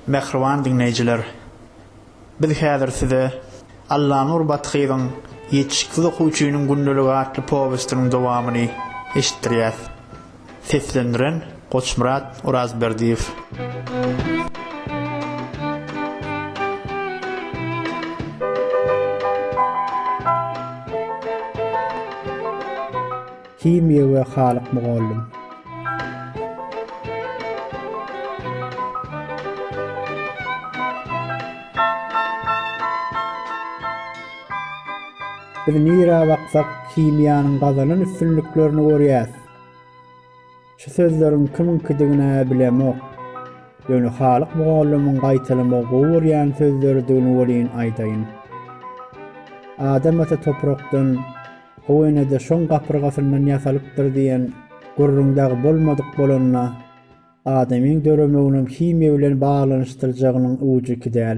Mähriban diňleýjiler! Biz häzir size Allanur Bathyzyň Ýetişiksiz okuwçynyň gündeligy atly powestiniň dowamyny eşitdirýäs. Seslendiren, Goçmyrat Orazberdiýew. Himiýa we Halyk mugallym. Biz nirä baksak, himiýanyň gazanan üstünliklerini görýäs. Şu sözleriň kimiňkidigini-ä bilemok. Ýöne Halyk mugallymyň gaýtalamagy gowy görýän sözleridigini welin aýdaýyn. Adam ata toprakdan, how ene-de şoň gapyrgasyndan ýasalypdyr diýen gürrüň dagy bolmadyk bolanda, adamyň döremeginiň himiýa bilen baglanyşdyrjagynyň ujyky däl.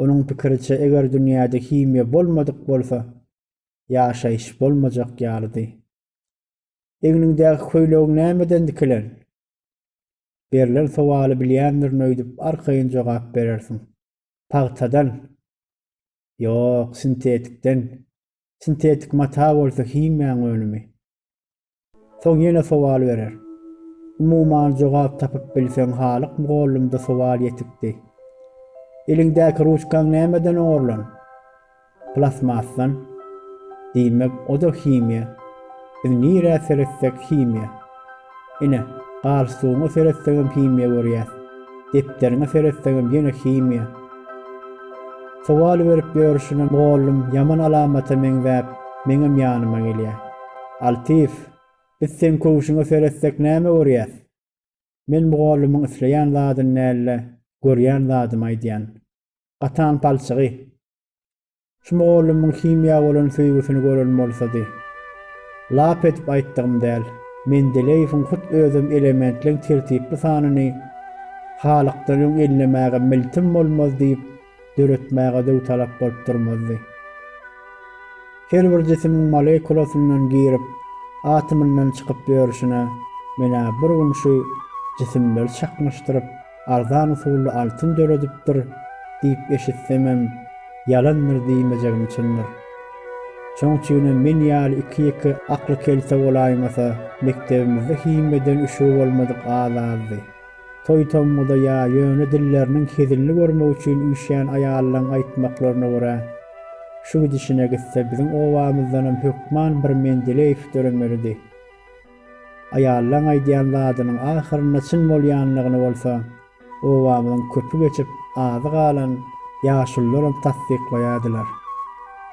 Onuň pikiriçe, eger dünýäde himiýa bolmadyk bolsa, ýaşaýyş bolmajak ýalydy. Egniňdäki köýnegiň nämeden dikilen? Berlen sowaly bilýändirin öýdüp arkaýyn jogap berersiň. Pagtadan. Ýok, sintetikden. Sintetik mata bolsa himiýaň önümi. Soň ýene sowal berer. Umuman jogap tapyp bilseň halyk mugallymda sowal ýetikdi. Eliňdäki ruçkaň nämeden oňarlan? Plastmasdan, diýmek oda himiýa, biz nirä seretsek himiýa. Ine, galstugyňa seretseňem himiýa görýäs, depderiňe seretseňem ýene himiýa. Sowal berip ýörşüne mugallym ýaman alamata meňzäp meňem ýanyma gelýär. Altyýew, biz seň köwşüňe seretsek näme görýäs? Men mugallymyň isleýän zadyny däl-de, görýän zadymy aýdýan. Gatan palçygy, Şu mugallymyň himiýa bolan söýgüsini gören bolsady. Lap edip aýtdygym däl. Mendeleýewiň hut özem elementleň tertipli sanyny Halykdan öň ellemäge miltim bolmaz diýip döretmäge döwtalap bolup durmazdy. Her bir jisimiň molekulasyndan girip, atomyndan çykyp ýörşüne men-ä bir gün şu jisimleri çaknyşdyryp, arzan usully altyn döredipdir diýip eşitsemem, ýalandyr diýmejegim çyndyr. Şoň üçinem men ýaly iki-ýeke akly kelte bolaýmasa, mekdebimizde himiýadan üşügi bolmadyk az-azdy. Toý-tomguda ýa ýöne dilleriniň hezinli görmek üçin üýşýän aýallaryň aýtmaklaryna görä, şu gidişine gitse biziň obamyzdanam hökman bir Mendeleýew döremelidi. Aýallaň aýdýan zadynyň ahyrynda çyn bolýanlygyny bolsa, obamyzyň köpi geçip azy galan ýaşulularam tassyklaýardylar.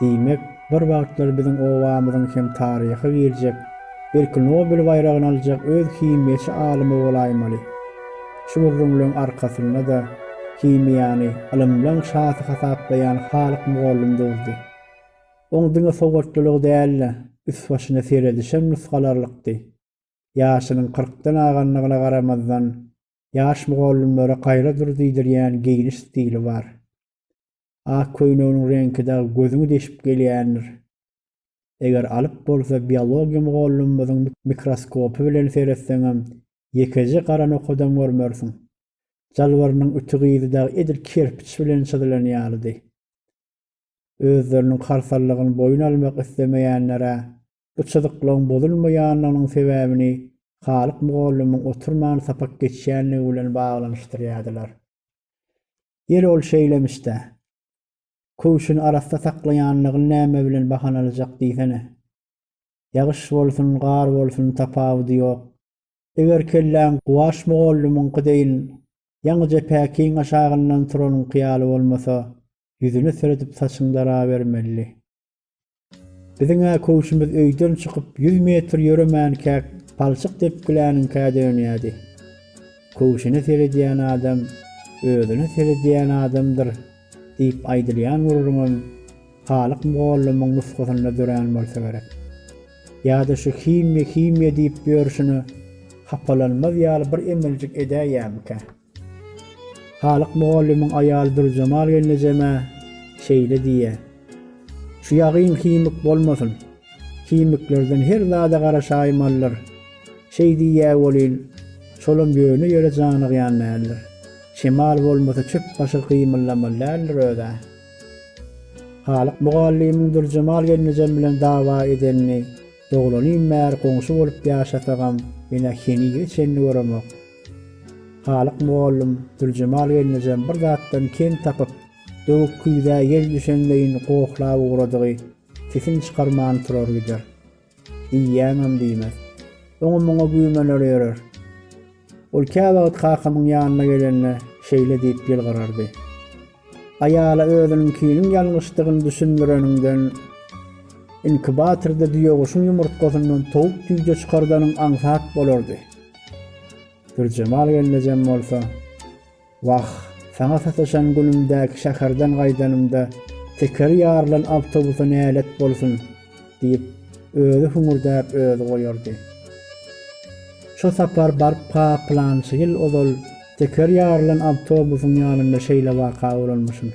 Diýmek, bir wagtlar biziň obamyzyň hem taryha girjek, belki Nobel baýragyny aljak öz himiýaçy alymy bolaýmaly. Şu gürrüňleň arkasynda-da himiýany ylymlaň şasy hasaplaýan Halyk mugallym durdy. Oň diňe sowatlylygy däl-de, üst-başyna seredişem nusgalarlykdy. Ýaşynyň kyrkdan aganlygyna garamazdan, ýaş mugallymlara gaýra dur diýdirýän geýniş stili bar. Ak köýneginiň reňki dagy gözüňi deşip gelýändir. Eger alyp bolsa biologiýa mugallymymyzyň mikroskopy bilen seretseňem, ýekeje gara nokadam görmersiň. Jalbarynyň ütügizi dagy edil kerpiç bilen çyzylan ýalydy. Özleriniň kartallygyny boýun almak islemeýänlere bu çyzyklaryň bozulmaýanlygynyň sebäbini Halyk mugallymyň oturman sapak geçýänligi bilen baglanyşdyrýardylar. Ýeri ol şeýlemiş-dä. Köwşüni arassa saklaýanlygyny näme bilen bahanalajak diýsene. Ýagyş bolsun, gar bolsun tapawudy ýok. Eger kelläň Guwaş mugallymyňky deýin, ýaňyja päkiň aşagyndan turanyňky ýaly bolmasa, ýüzüne seredip saçyň darabermeli. Biziň-ä köwşümiz öýden çykyp ýüz metr ýöremänkäk palçyk depgiläniňkä dönýärdi. Köwşüne seredýän adam özüne seredýän adamdyr. Diýip aýdylýan gürrüňem Halyk mugallymyň nusgasynda dörän bolsa gerek. Ýa-da şu himiýa, himiýa diýip ýörşüne hapalanmaz ýaly bir emeljik edäýýämikä? Halyk mugallymyň aýaly Dürjemal gelnejemä şeýle diýýä, Şu ýagyn himik bolmasyn. Himiklerden her zada garaşaýmalydyr. Şeý diýýä welin, şolam ýöne ýere janygýan däldir. Çemal bolmasa çöp başy gymyldamaly däldir öz-ä. Halyk mugallymyň Dürjemal gelnejem bilen dawa edenini doglanym bäri goňşy bolup ýaşasagam ine henizä çenli göremok. Halyk mugallym Dürjemal gelnejem bir zatdan kem tapyp, döwük küýzä ýel düşenleýin gohlap ugradygy sesini çykarman turar gider. Diýýäňem diýmez. Oňa-muňa güýmener ýörer. Ol käwagt kakamyň ýanyna gelende şeýle diýip ýylgyrardy. Aýala özüniňkiniň ýalňyşdygyny düşündireniňden, inkubatorda düýeguşuň ýumurtgasyndan towuk-jüýje çykardanyň aňsat bolardy. Dürjemal gelnejem bolsa. Wah, saňa sataşan günümdäki şäherden gaýdanymda tekeri ýarylan awtobusa nälet bolsun! diýip, özi hüňürdäp özi goýardy. Şo sapar baryp-ha pylançy ýyl ozal tekeri ýarylan awtobusyň ýanynda şeýle waka bolanmyşyn.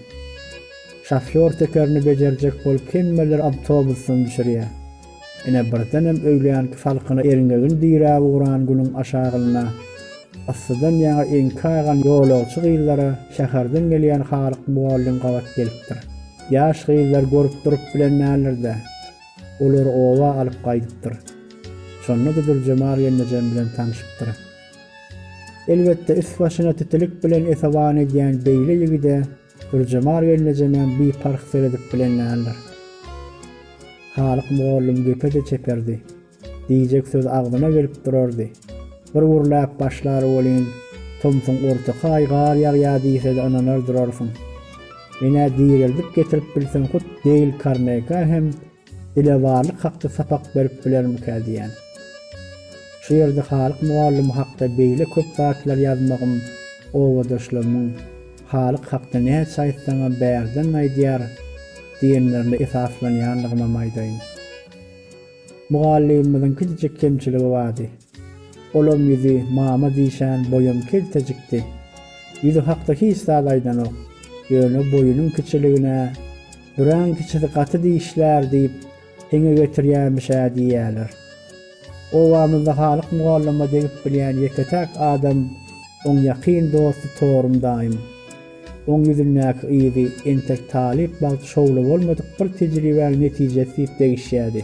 Şofýor tekerini bejerjek bolup hemmeleri awtobusdan düşürýär. Ine, birdenem öýlänki salkyna erňegin diräp ugran günüň aşagynda yssydan ýaňa eňki gaýgan ýolagçy gyzlara şäherden gelýän halyk mugallym gabat gelipdir. Ýaş gyzlar görüp durup bilen däldir-de, olary oba alyp gaýdypdyr. Şonda-da Dürjemal gelnejem bilen tanşypdyr. Elbetde, üst-başyna titilik bilen esewan edýän beýle ýigide Gürjemar gelnejemäm biparh seredip bilen däldir. Halyk mugallym gepe-de çeperdi. Diýjek söz agzyna gelip durardy. Bir gürläp başlar welin, tomsuň ortaky aý gar ýagýar diýse-de ynanar durarsyň. Men-ä direldip getirip bilsem hut Deýl Karnega hem Dilewarlyk hakda sapak berip bilermikä diýýän. Şu ýerde Halyk mugallym hakda beýle köp zatlar ýazmagym obadaşlarymyň Halyk hakda näçe aýtsaňam bärden aýdýar diýenlerine esaslanýandygymam aýdaýyn. Mugallymymyzyň kiçijik kemçiligi bardy. Olam ýüzi mama diýşän boýam keltejikdi. Ýüzi hakda hiç zat aýdanok. Ýöne boýunyň kiçiligine. Büräň kiçisi gaty dişlär diýip, eňe getirýämiş-ä diýýäler. Obamyzda Halyk mugallyma degip bilýän ýeke-täk adam oň ýakyn dosty Torum daýym. Oň ýüzündäki yzy entek talyp bagty şowly bolmadyk bir tejribäniň netijesi diýip degişýärdi.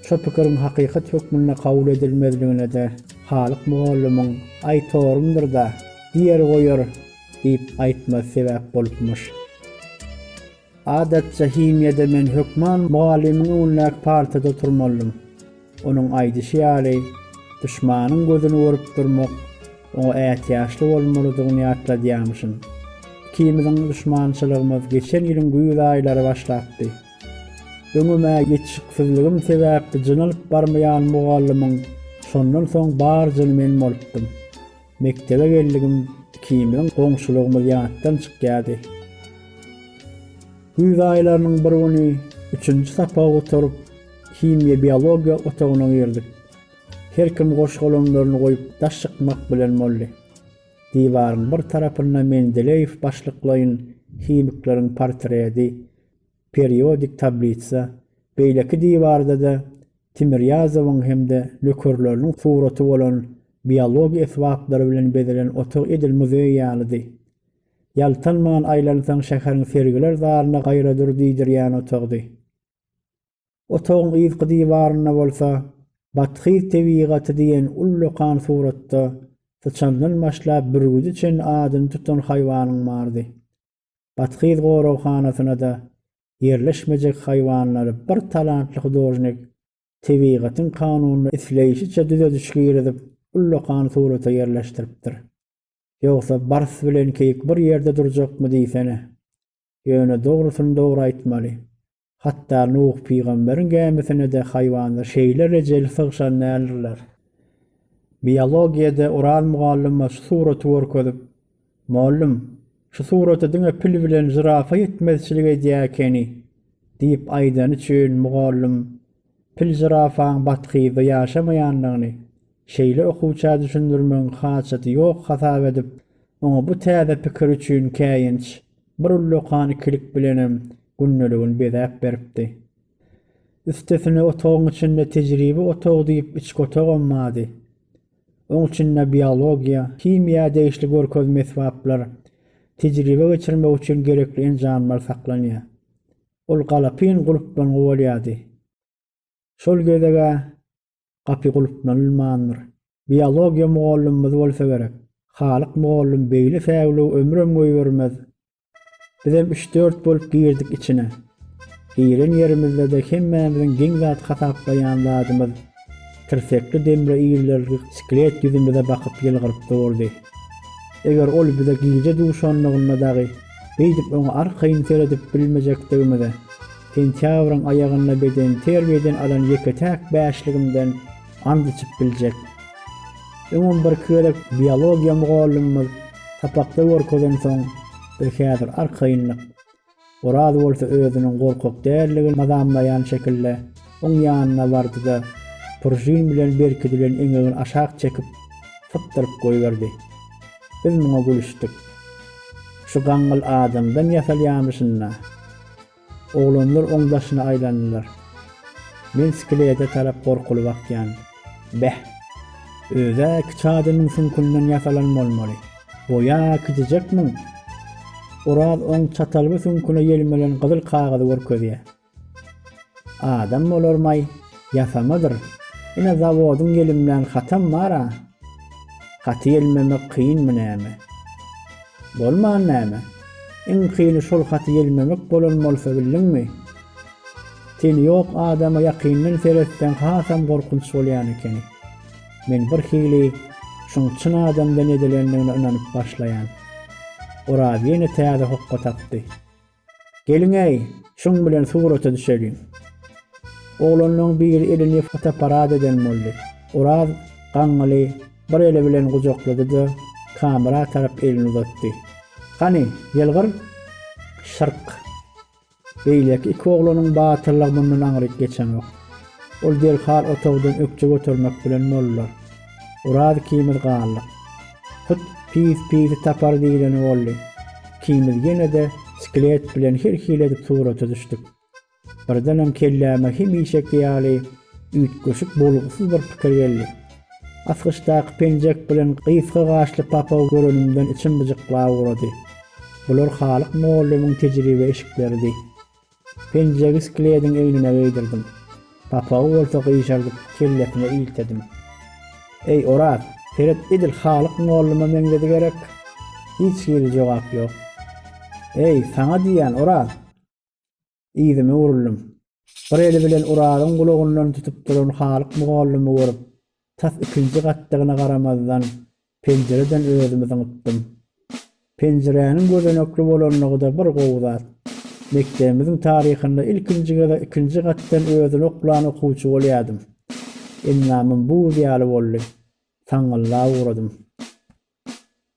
Şo pikiriň hakykat hökmünde kabul edilmezligine-de Halyk mugallymyň, Aý Torumdyr-da, diýer-goýar, diýip aýtma sebäp bolupmyş. Adatça himiýada men hökman mugallymyň öňündäki partada oturmalydym. Onuň aýdyşy ýaly, duşmanyň gözüni görüp durmak, oňa ätiýaçly bolmalydygyny ýatladýarmyşyn. Ikimiziň duşmançylygymyz geçen ýylyň güýz aýlary başlapdy. Öňüme ýetişiksizligim sebäpli jynalyp barmaýan mugallymyň şondan soň bar jyny men bolupdym. Mekdebe geldigim ikimiziň goňşulygymyz ýatdan çykýardy. Güýz aýlarynyň bir güni üçünji sapagy gutaryp, himiýa-biologiýa otagyna girdik. Her kim goş-golamlaryny goýup daş çykmak bilen boldy. Diwaryň bir tarapynda Mendeleýew başlyklaýyn himikleriň portredi, periodik tablitsa, beýleki diwarda-da Timirýazowyň hem-de nökerleriniň suraty bolan biologiýa esbaplary bilen bezelen otag edil muzeý ýalydy. Ýaltanman aýlansaň şäheriň sergiler zalyna gaýradyr diýdirýän otagdy. Otagyň yzky diwarynda bolsa Bathyz tebigaty diýen ullakan suratda syçandan başlap bürgüde çenli adyny tutan haýwanyň bardy. Bathyz goraghanasynada ýerleşmejek haýwanlary bir talantly hudožnik tebigatyň kanunyna isleýşiçe düzediş girizip, ullakan surata ýerleşdiripdir. Ýogsa bars bilen keýik bir ýerde durjakmy diýsene. Ýöne dogrusyny dogry aýtmaly. Hatda Nuh pygamberiň gämisine-de haýwanlar şeýle rejeli sygşan däldirler. Biologiýada Oraz mugallyma şu suraty görkezip, Mollum, şu surata diňe pil bilen žirafa ýetmezçilik edýär ekeni, diýip aýdany üçin mugallym pil-žirafaň bathyzda ýaşamaýandygyny, Şeýle okuwça düşündirmegiň haçjady ýok hasap edip, oňa bu täze pikir üçin käýinç bir ullakan ikilik bilenem gündeligini bezäp beripdi. Üstesine otagyň içinde tejribe otagy diýip içki otagam bady. Oň içinde biologiýa, himiýa degişli görkezme esbaplar, tejribe geçirmek üçin gerekli enjamlar saklanýa. Ol galapyn gulplangy bolýady. Şol gezeg-ä gapy gulplanylmandyr. Biologiýa mugallymymyz bolsa gerek. Halyk mugallym beýle säwligi ömrem goýbermez. Bizem üç-dört bolup girdik içine. Giren ýerimizde-de hemmämiziň geň zat hasaplaýan zadymyz tirsekli demre ildirilgi sklet ýüzümize bakyp ýylgyryp durdy. Eger ol bize gije duşanlygynda dagy beýdip oňa arkaýyn seredip bilmejekdigimize, Sentýabryň aýagynda bedenterbiýeden alan ýeke-täk bäşligimden and içip biljek. Öňem birki gezek biologiýa mugallymymyz sapakda görkezensoň, biz häzir arkaýynlyk. Oraz bolsa özüniň gorkak däldigini mazamlaýan şekilde oň ýanyna bardy-da, pržin bilen berkidilen eňegini aşak çekip, sypdyryp goýberdi. Biz muňa gülüşdik. Şu gaňňyl adamdan ýasalýamyşyn-da! Oglanlar oň daşyna aýlandylar. Men skelede tarap gorkuly bakýan. Beh! Öz-ä iki çadyrnyň süňkünden ýasalan bolmaly. Boýa kiçijekmiň? Oraz oň çatalby süňküne ýelmelen gyzyl kagyzy görkezýär. Adam bolarmaý, ýasamadyr. Ine zawodyň ýelimlän hatam bar-a. Gaty ýelmemek kynmy näme? Bolman näme? Iň kyny şol haty ýelmemek bolan bolsa bildiňmi? Teni ýok adama ýakyndan seretseň hasam gorkunç bolýan ekeni. Men birhili şuň çyn adamdan edilendigine ynanyp başlaýan. Oraz ýene täze hokga tapdy. Geliň-äý, şuň bilen surata düşeliň. Oglanlaryň biri elini fotoapparat eden boldy. Oraz gaňňyly bir eli bilen gujaklady-da, kamera tarap elini uzatdy. Hany, ýylgyr! Şyrk! Beýleki iki oglanyň batyrlygy mundan aňryk geçenok. Ol derhal otagdan ökje götermek bilen boldular. Oraz ikimiz galdyk. Hut pis pisi tapar diýleni boldy. Ikimiz ýene-de sklet bilen her hili edip surata düşdük. Birdenem kelläme hemişeki ýaly üýtgeşik bolgusyz bir pikir geldi. Asgyçdaky penjek bilen gysga gaşly papagy görenimden içim byjyklap ugrady. Bular Halyk mugallymyň tejribe eşikleridi. Penjegi sklediň egnine geýdirdim. Gapagy bolsa gyşardyp, kellesine iltedim. Eý, Oraz, seret edil Halyk molluma meňzedi gerek? Hiç hili jogap ýok. Eý, saňa diýýän, Oraz! Yzyma buruldym. Bir eli bilen Orazyň gulagyndan tutup duran Halyk mugallymy görüp, Tas ikinji gatdygyna garamazdan, penjireden özümi zyňypdym. Penjiräniň gözenekli bolanlygy-da bir gowy zat. Mekdebimiziň taryhynda ilkinji gezek ikinji gatdan özüni oklan okuwçy bolýadym. Endamym buz ýaly boldy. Saňňyllap ugradym.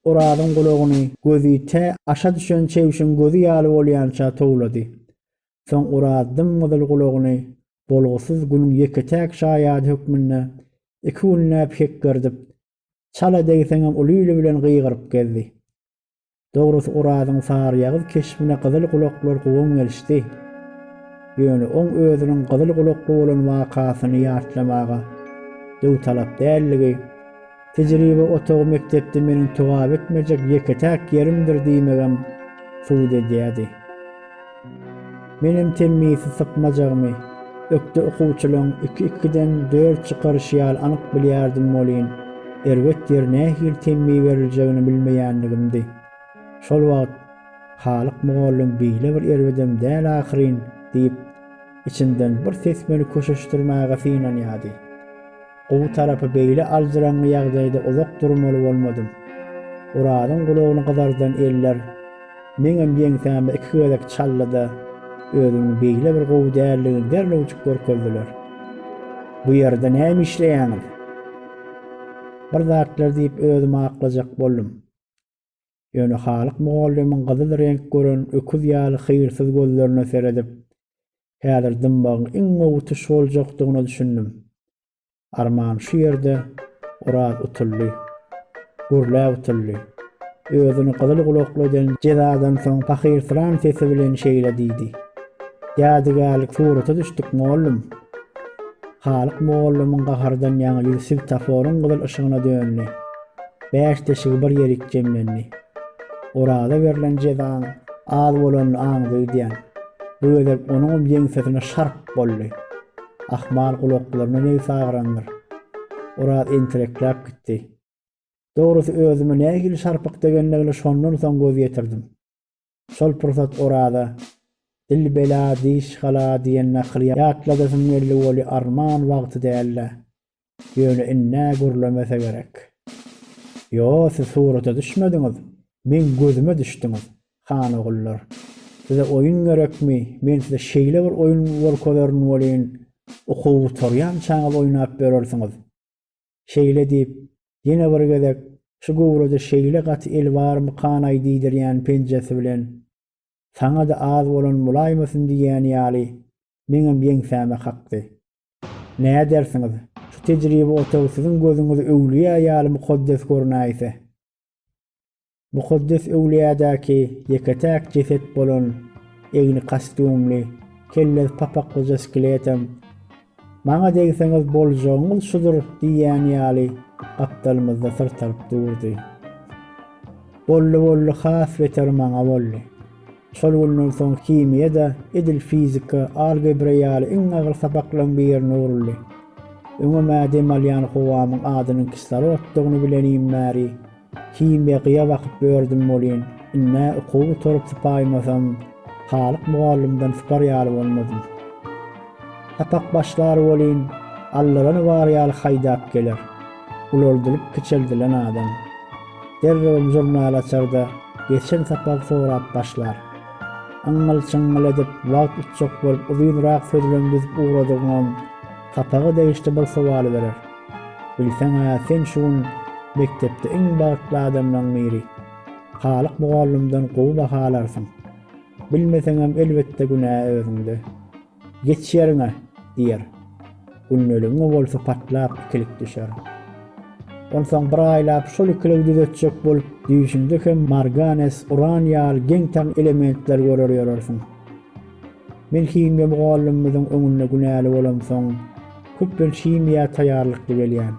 Orazyň gulagyny gözi tä aşa düşen çebşiň gözi ýaly bolýança towlady. Soň Oraz dym-gyzyl gulagyny bolgusyz günüň ýeke-täk şaýady hökmünde iki günläp hekgerdip, çala degseňem uly ili bilen gygyryp gezdi. Dogrusy Orazyň saryýagyz keşbine gyzyl gulaklar guwan gelişdi. Ýöne oň özüniň gyzyl gulakly bolan wakasyny ýatlamaga döwtalap däldigi, Tejribe otagy mekdepde meniň togap etmejek ýeke-täk ýerimdir diýmegem subut edýärdi. Menem temmisi sypmajagymy, ökde okuwçylaň iki-ikiden dört çykaryşy ýaly anyk bilýärdim welin, erbet ýeri nähili temmi beriljegini bilmeýänligimdi. Şol wagt Halyk mugallym beýle bir erbedem däl ahyryn diýip, içinden bir ses meni köşeşdirmäge synanýardy. Gowy tarapy beýle aljyraňňy ýagdaýda uzak durmaly bolmadym. Orazyň gulagyny gyzardan eller meňem ýeňsäme iki gezek çaldy-da, özüniň beýle bir gowy däldigini derrewjik görkezdiler. Bu ýerde näme işleýäňiz? Bir zatlar diýip özümi aklajak boldum. Ýöne Halyk mugallymyň gyzyl reňk gören öküz ýaly hyýrsyz gözlerine seredip, Häzir dymmagyň iň gowy tuş boljakdygyna düşündim. Arman şu ýerde Oraz utuldy. Gürläp utuldy. Özüni gyzyl gulakly eden jezadan soň pahyrslan sesi bilen şeýle diýdi, Ýadygärlik surata düşdük, mugallym. Halyk mugallymyň gahardan ýaňa ýüzi swetaforyň gyzyl yşygyna döndi. Bäş deşigi bir ýerik jemlendi. Oraza berlen jezaň az bolanyny aňdyýdýan. Bu gezek onuňam ýeňsesine şarp boldy. Ahmal gulaklaryna nebsi agyrandyr. Oraz entirekläp gitdi. Dogrusy özüme nähili şarpyk degendigine şondan soň göz ýetirdim. Şol pursat Oraza, Dil bela, diş hala diýen nakyly ýatladasym geldi Weli arman wagty däldi. Ýöne indi-ä gürlemese gerek. Ýo, siz surata düşmediňiz. Meň gözüme düşdüňiz, han ogullar. Size oýun gerekmi? Men size şeýle bir oýun görkezerin welin, okuw gutarýançaňyz oýnap ýörersiňiz. Şeýle diýip, ýene bir gezek şu göwrede şeýle gaty el barmykan-aý diýdirýän penjesi bilen, Saňa-da az bolan bolaýmasyn diýýän ýaly, meňem ýeňsäme kakdy. Nädersiňiz, şu tejribe otagy siziň gözüňize öwlüýä ýaly mukaddes görünäýse? Mukaddes öwlüýädäki ýeke-täk jeset bolan egni kostýumly, kellesi papaklyja skeletem, Maňa degseňiz boljagyňyz şudur diýýäni ýaly gapdalymyzda syrtaryp durdy. Boldy, boldy, has beter maňa boldy. Şol günden soň himiýa-da edil fizika, algebra ýaly iň agyr sapaklaryň birine öwrüldi. Öňem-ä dem alýan howamyň adynyň kislorotdygyny bilenimim bäri, Himiýa gyýa bakyp ýördüm welin, indi-ä okuw gutaryp sypaýmasam, halyk mugallymdan sypar ýaly bolmadym. Sapak başlar welin, allalany bar ýaly haýdap geler. Ulaldylyp kiçeldilen adam. Derrewem žurnal açar-da, geçen sapagy sorap başlar. Yňňyl-çyňňyl edip, wagt utjak bolup uzynrak sözlem düzüp ugradygyňam, sapaga degişli bir sowaly berer. Bilseň-ä, sen şu gün mekdepde iň bagtly adamlaň biri. Halyk mugallymdan gowy baha alarsyň. Bilmeseňem, elbetde, günä özüňde. Geç ýeriňe! diýer. Gündeligiňe bolsa patlap ikilik düşer. Onsoň bir aýlap şol ikiligi düzetjek bolup, düýşüňde hem marganes, uran ýaly geň-taň elementleri görer ýörersiň. Men himiýa mugallymymyzyň öňünde günäli bolamsoň, köplenç himiýa taýýarlykly gelýän.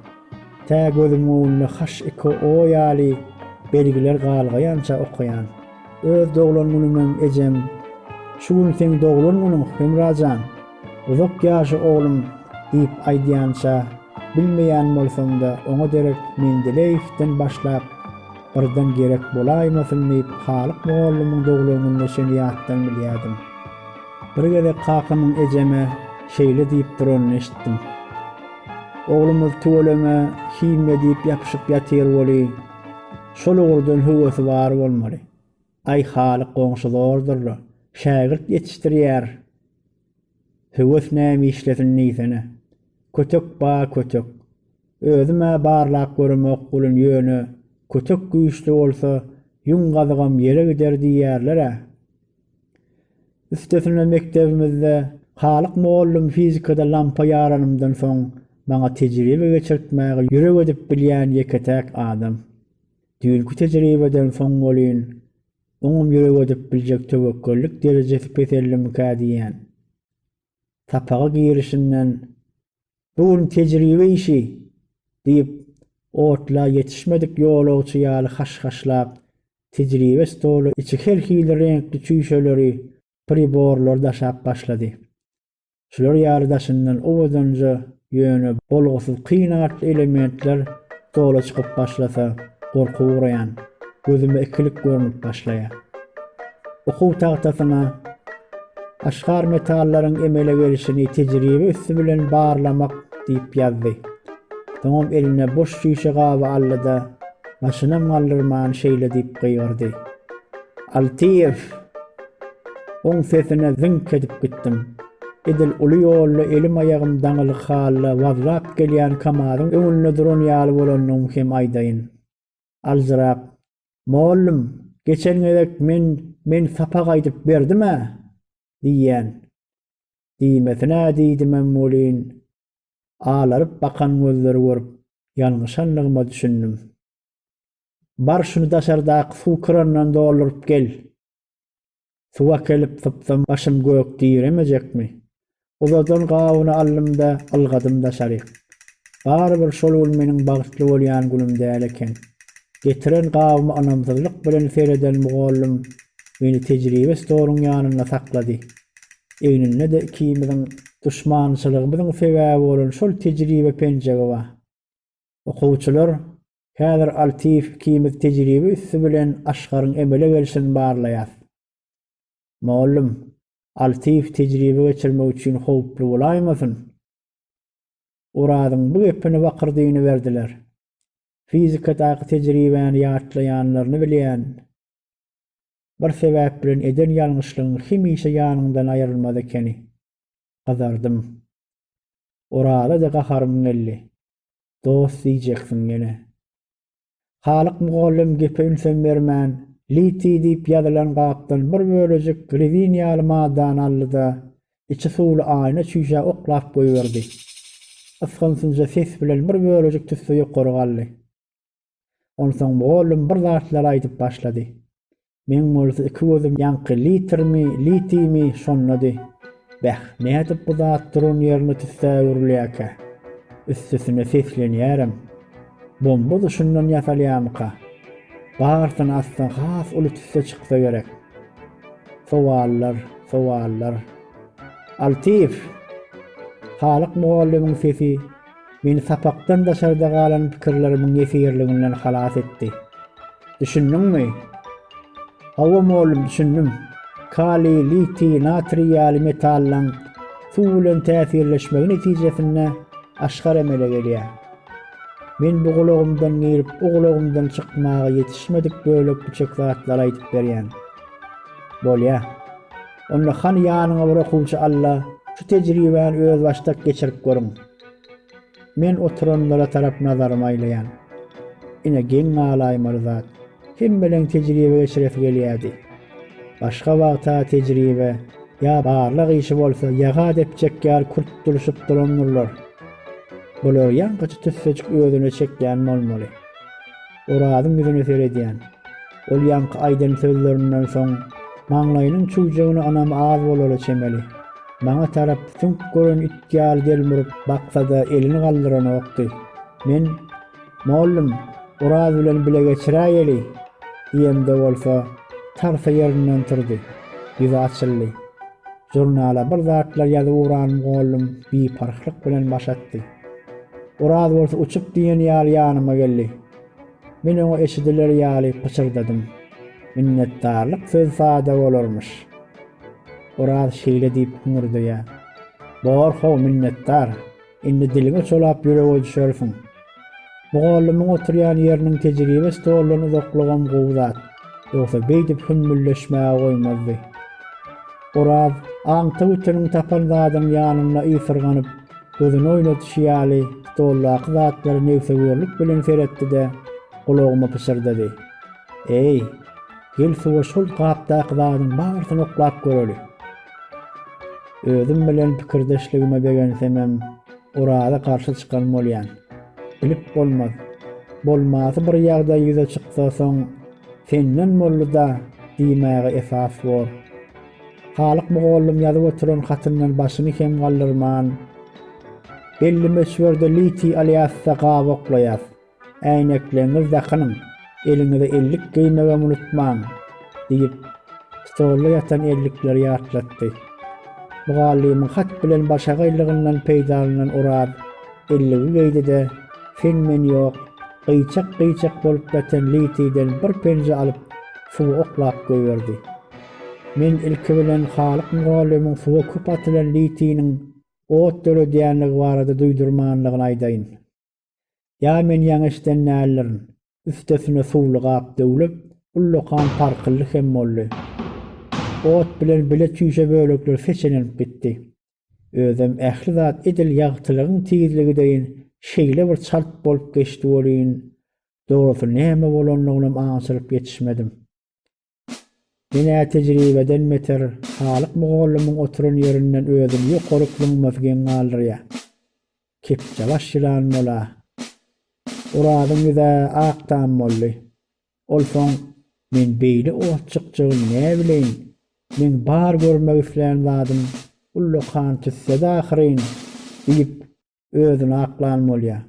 Tä gözümiň öňünde HIKO ýaly belgiler galgaýança okaýan. Öz doglan günümem ejem, Şu gün seň doglan günüň, Hemrajan! Uzak ýaşa oglum! diýip aýdýança, bilmeýän bolsam-da, oňa derek Mendeleýewden başlap, Birden gerek bolaýmasyn diýip, Halyk mugallymyň doglanynda şeýle ýatdan bilýärdim. Bir gezek kakamyň ejeme şeýle diýip duranyny eşitdim. Oglumyz tüweleme himiýa diýip ýapyşyp ýatyr weli, şol ugurdan höwesi bar bolmaly. Aý halyk goňşy zordur-la, şägirt ýetişdirýär. Höwes näme işlesin diýsene. Kötek ba kötek. Özüm-ä barlap göremok welin ýöne kötek güýçli bolsa ýüň gazygam ýele gider diýýärler-ä. Üstesine mekdebimizde Halyk mugallym fizikada lampa ýaranymdan soň maňa tejribe geçirtmäge ýürek edip bilýän ýeke-täk adam. Düýnki tejribeden soň welin, oňam ýürek edip biljek töwekgellik derejesi peseldimikä diýýän. Sapaga girişinden, Bu gün tejribe işi! diýip, otla ýetişmedik ýolagçy ýaly haş-haşlap, tejribe stoly içi her hili reňkli çüýşeleri, priborlary daşap başlady. Şular ýaly daşyndan owadanja, ýöne bolgusyz kyn artly elementler stola çykyp başlasa, gorky ugraýan. Gözüme ikilik görnüp başlaýar. Okuw tagtasyna Aşgar metallaryň emele gelişini tejribe üsti bilen barlamak diýip ýazdy. Soňam eline boş çüýşe gaby aldy-da, başynam galdyrman şeýle diýip gygyrdy. Altyýew! Oň sesine zyňk edip gitdim. Edil uly ýolda elim-aýagym daňylyk halda wazlap gelýän Kamazyň öňünde duran ýaly bolandygymy hem aýdaýyn. Aljyrap, Mollum, geçen gezek men men sapak aýdyp berdim-ä! diýýän. Diýmesin-ä diýdimem welin, alaryp bakan gözleri görüp, ýalňyşandygyma düşündim. Bar şuny daşardaky suw kranyndan dolduryp gel! Suw äkelip sypsam başym gök diremejekmi? Uzadan gabyny aldym-da, ylgadym daşaryk. Barybir şol gün meniň bagtly bolýan günüm däl eken. Getiren gabyma ynamsyzlyk bilen sereden mugallym meni tejribe stoluň ýanynda saklady. Egninde-de ikimiziň duşmançylygymyzyň sebäbi bolan şol tejribe penjegi bar. Okuwçylar Häzir Altiýew ikimiz tejribe üsti bilen Asgaryň emele gelşini barlaýas. Mugallym, Altiýew tejribe geçirmek üçin howply bolaýmasyn? Orazyň bu gepine bakyr dynyberdiler. Fizikadaky tejribäni ýatlaýanlaryny bilýän. Bir sebäp bilen eden ýalňyşlygyň hemişe ýanyňdan aýrylmaz ekeni. gyzardym. Oraza-da gaharym geldi. Dost diýjeksiň ýene. Halyk mugallym gepe ünsem bermän, litiý diýip ýazylan gapdan bir bölejik rezin ýaly maddany aldy-da, içi suwly aýna çüýşä oklap goýberdi. Ysgynsynja ses bilen bir bölejik tüsse ýokary galdy. Onsoň mugallym bir zatlar aýdyp başlady. Meň bolsa iki gözüm ýaňky litrmi, litimi, şondady. Beh, nädip bu zat duran ýerine tüssä öwrülýärkä? Üstesine seslenýärem. Bomba-da şundan ýasalýarmyka? Barysyny assaň has uly tüsse çyksa gerek. Sowallar, sowallar. Altyýew! Halyk mugallymyň sesi Meni sapakdan daşarda galan pikirlerimiň ýesirliginden halas etdi. Düşündiňmi? Hawa, mugallym, düşündim. Kaliý, litiý, natriý ýaly metallaryň suw bilen täsirleşmegi netijesinde aşgar emele gelýär. Men bu gulagymdan girip, o gulagymdan çykmaga ýetişmedik bölek-büçek zatlary aýdyp berýän. Bolýa. Onda hany ýanyňa bir okuwçy alla, şu tejribäni özbaşdak geçirip görüň. Men oturanlara tarap nazarymy aýlaýan. Ine geň galaýmaly zat, hemmeleň tejribe geçiresi gelýärdi. Başga wagta tejribe ýa barlag işi bolsa ýaga depjek ýaly kürtdürişip durandyrlar. Bular ýaňkyça tüssejik özüne çekýän bolmaly. Orazyň ýüzüne seredýän. Ol ýaňky aýdan sözlerinden soň maňlaýynyň çüwjegine ynam az bolala çemeli. Maňa tarap süňk gören it ýaly delmuryp baksa-da elini galdyranokdy. Men, Mollum, Oraz bilen bile geçiräýeli! diýemde bolsa, tarsa ýerinden turdy. Ýüzi açyldy. Žurnala bir zatlar ýazyp ugranym goldum, biparhlyk bilen baş atdy. Oraz bolsa uçup diýen ýaly ýanyma geldi. Men oňa eşidiler ýaly pyçyrdadym. Minnetdarlyk söz sada bolarmyş. Oraz şeýle diýip hyňyrdaýar. Bor how minnetdar. Indi diliňi çolap ýürege düşersiň. Mugallymyň oturýan ýeriniň tejribe stoldan uzaklygam gowy zat. Ýogsa beýdip hümmüldeşmäge goýmazdy. Oraz aňty bütüniň tapan zadynyň ýanynda ysyrganyp, gözüni oýnadyşy ýaly, stoldaky zatlara negsögürlik bilen seretdi-de, gulagyma pyşyrdady. Eý, gel suwa şol gapdaky zadyň barysyny oklap göreli. Özüm bilen pikirdeşligime begensemem, Oraza garşy çykan bolýan. Bilip bolmaz. Bolmasy bir ýagdaý ýüze çyksa, soň Senden boldy-da diýmäge esas bor. Halyk mugallym ýazyp oturan hatyndan başyny kem galdyrman, Belli möçberde litiý alýas-da gabaklaýas. Äýnekleňňizi dakynyň, eliňize ellik geýmegem unutmaň! diýip, stolda ýatan ellikleri ýatlatdy. Mugallymyň hat bilen başagaýlygyndan peýdalanan Oraz elligi geýdi-de, sen-men ýok, gyýçak-gyýçak bolup ýatan litiden bir penje alyp, suwa oklap goýberdi. Men ilki bilen Halyk mugallymyň suwa köp atylan litiniň ot döredýänligi barada duýdurmanlygyny aýdaýyn. Ýa men ýaňy eşiden däldirin. Üstesine suwly gap döwlüp, ullakan parkyldy hem boldy. Ot bilen bile çüýşe bölekler seçenilip gitdi. Özem ähli zat edil ýagtylygyň tizligi deýin şeýle bir çalt bolup geçdi welin, dogrusy näme bolanynam aňşyryp ýetişmedim. Ine, tejribeden beter, Halyk mugallymyň oturan ýerinden özüni ýokary plňmaty geň galdyrýar. Kepjebaş ýylan bol-a! Orazyň ýüz-ä ak tam boldy. Ol soň, Men beýle ot çykjagyn näbileýin, meň bar görmek islän zadym ullakan tüsse-de ahyryn! diýip, özüni aklan bolýar.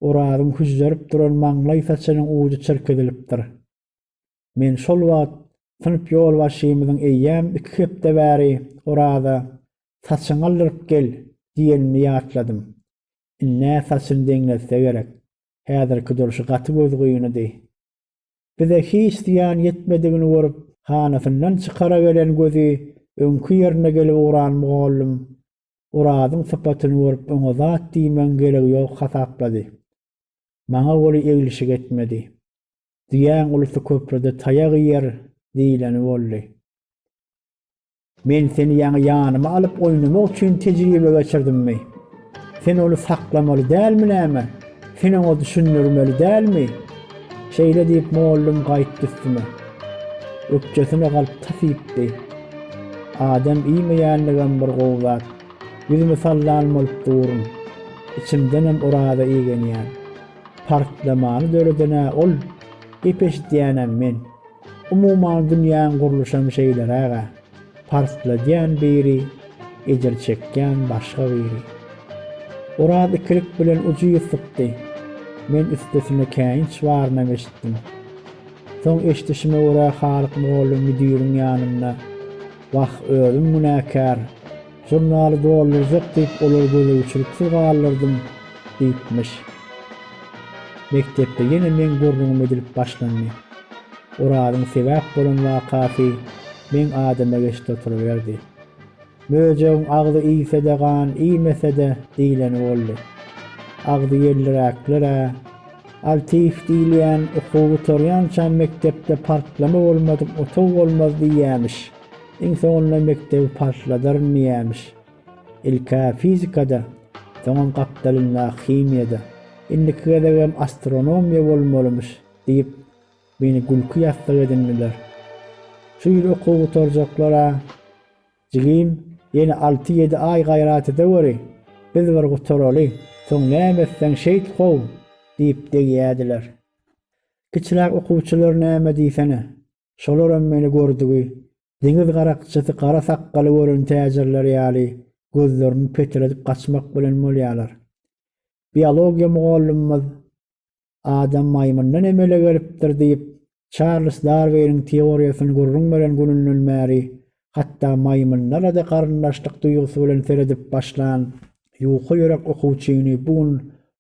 Orazyň hüžžerip duran maňlaý saçynyň ujy çyrk edilipdir. Men şol wagt synp ýolbaşçymyzyň eýýäm iki hepde bäri Oraza, saçyňy aldyryp gel! diýenini ýatladym. Indi-ä saçyny deňletse gerek. Häzirki durşy gaty gözgynydy. Bize hiç zyýan ýetmedigini görüp, hanasyndan çykara gelen gözi öňki ýerine gelip ugran mugallym Orazyň sypatyny görüp oňa zat diýmegiň geregi ýok hasaplady. Maňa oly eglişik etmedi. Düýäň ulusy köprüde taýak iýer diýleni boldy. Men seni ýaňy ýanyma alyp oýnamak üçin tejribe geçirdimmi? Sen ony saklamaly dälmi näme? Sen oňa düşündirmeli dälmi? Şeýle diýip mollum gaýtdy üstüme. Ökjesine galyp tas iýipdi. Adam iýmeýänligem bir gowy zat. Ýüzümi sallan bolup durun. Içimdenem oraza igenýän. Partlamany döreden-ä ol, gep eşidýänem men. Umuman dünýäň gurluşam şeýleräg-ä. Partladýan biri, ejir çekýän başga biri. Oraz ikilik bilen ucüz sypdy. Men üstesine käýinç barynam eşitdim. Soň eşidişime görä Halyk mugallym müdiriň ýanynda. Wah, özüm günäkär. Žurnaly doldurjak diýip olary gözegçiliksiz galdyrdym, diýipmiş. Mekdepde ýene meň gürrüňim edilip başlandy. Orazyň sebäp bolan wakasy meň adyma geçdi oturyberdi. Möjegiň agzy iýse-de gan, iýmese-de diýleni boldy. Agzy ýelliräkler-ä. Altyýew diýilýän okuw gutarýança mekdepde partlama bolmadyk otag bolmaz diýýämiş. Iň soňunda mekdebi partladaryn diýýämiş. Ilk-ä fizikada, soňam gapdalyndaky himiýada, indiki gezegem astronomiýa bolmalymyş diýip, meni gülki ýassygy edindiler. Şu ýyl okuw gutarjaklar-a. Jigim, ýene alty-ýedi aý gaýrat edeweri, biz bir gutaraly, soň näme etseň şeýt gowy! diýip degýärdiler. Kiçiräk okuwçylar näme diýsene, şolaram meni gördügi, deňiz garakçysy gara sakgaly gören täjirler ýaly gözlerini petredip gaçmak bilen bolýarlar. Biologiýa mugallymymyz adam maýmyndan emele gelipdir diýip, Çarlz Darwiniň teoriýasyny gürrüň beren gününden bäri hatda maýmynlara-da garyndaşlyk duýgusy bilen seredip başlan ýuka ýürek okuwçyny bu gün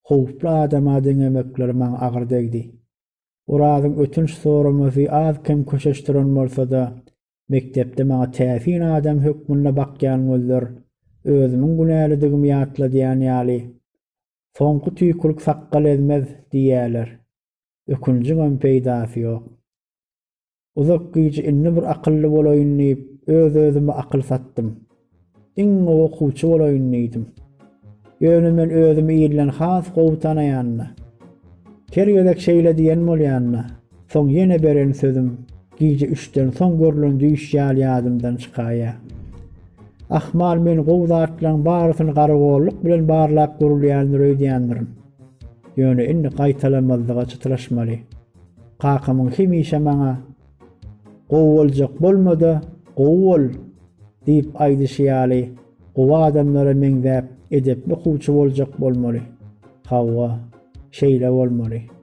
howply adama deňemekleri maňa agyr degdi. Orazyň ötünç soramasy az-kem köşeşdiren bolsa-da, mekdepde maňa täsin adam hökmünde bakýan gözler özümiň günälidigimi ýatladýan ýaly, Soňky tüýkülik sakgal ezmez diýýäler. Ökünjiňem peýdasy ýok. Uzak gije indi bir akylly bolaýyn diýip, öz-özüme akyl satdym. Iň gowy okuwçy bolaýyn diýdim. Ýöne men özümi ilden has gowy tanaýan-da. Her gezek şeýle diýen bolýan-da, Soň ýene beren sözüm, Gije üçden soň görlen düýş ýaly ýadymdan çykaýa. Ahmal men gowy zatlaryň barysyny garagollyk bilen barlap görülýändir öýdýändirin. Ýöne indi gaýtalanmazlyga çytraşmaly. Kakamyň hemişe maňa Gowy boljak bolma-da, gowy bol! diýip aýdyşy ýaly, gowy adamlara meňzäp, edepli okuwçy boljak bolmaly. Hawa, şeýle bolmaly.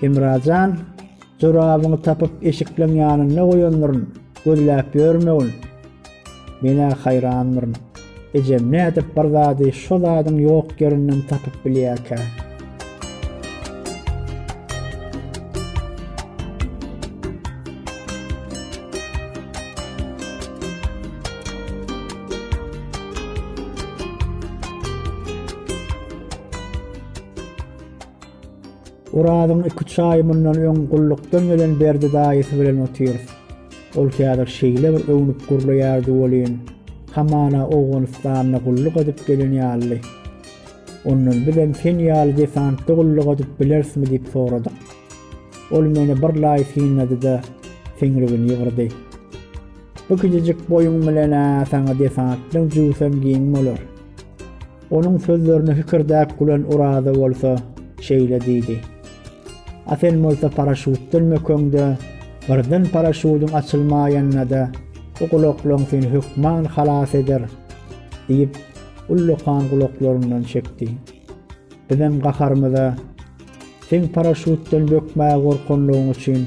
Hemrajan, jorabyňy tapyp eşikleň ýanynda goýandyryn, gözläp ýörmegin. Men-ä haýrandyryn. Ejem nädip bir zady şo zadyň ýok ýerinden tapyp bilýärkä? Orazyň iki-üç aý mundan öň gullukdan gelen Berdi daýysy bilen otyrys. Ol häzir şeýle bir öwnüp gürleýärdi welin, hamana Owganystanda gulluk edip gelen ýaly. Ondan bizem sen ýaly desantda gulluk edip bilerismi diýip soradyk. Ol meni birlaý synlady-da, seňrigini ýygyrdy. Bu kiçijik boýuň bilen-ä saňa desantdan jübüsem giň bolar. Onuň sözlerine hikirdäp gülen Oraza bolsa şeýle diýdi, A sen bolsa paraşýutdan mökeňde, birden paraşýudyň açylmaýanda-da, bu gulaklaň seni hökman halas eder! diýip, ullakan gulaklaryndan çekdi. Bizem gaharymyza, Seň paraşýutdan bökmäge gorkanlygyň üçin,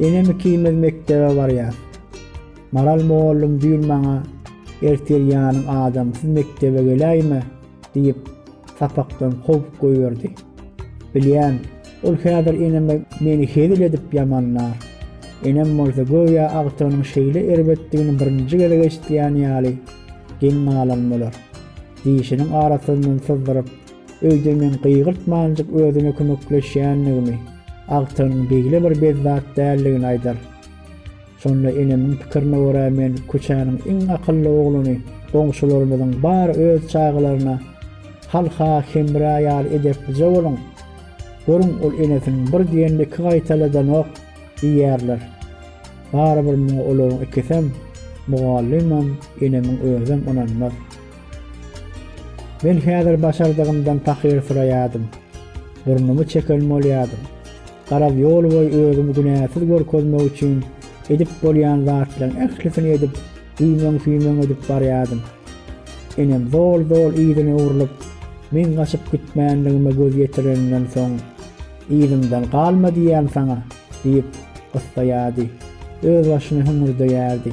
Enem ikimiz mekdebe barýar. Maral mugallym düýn maňa, Ertir ýanyň adam, siz mekdebe geläýme, diýip, sapakdan kowup goýberdi. Bilýän, ol häzir eneme meni hezil edip ýamanlar. Enem bolsa göýä agtygynyň şeýle erbetdigini birinji gezek eşidýän ýaly geň galan bolar. Dişiniň arasyndan syzdyryp, öýde men gygyrtmanjyk özüne kömekleşýändigimi, agtygynyň beýle bir bezzat däldigini aýdar. Şonda enemiň pikirine görä men köçäniň iň akylly oglany, goňşularymyzyň bar öz çagalaryna Hal-ha Hemra ýaly edeplije boluň, görüň ol enesiniň bir diýenini iki gaýtaladanok diýerler. Barybir muňa olaryň ikisem, mugallymam, enemiň özem ynanmaz. Men häzir başardygymdan pahyr syraýardym. Burnumy çeken bolýardym. Garaz, ýolboýy özümi günäsiz görkezmek üçin edip bolýan zatlaryň ählisini edip, güýmeň-süýmeň edip barýardym. Enem zol-zol yzyna öwrülip, meň gaçyp gitmänligime göz ýetireninden soň, Yzymdan galma diýýän saňa! diýip, gyssaýardy. Özbaşyna hüňürdeýärdi.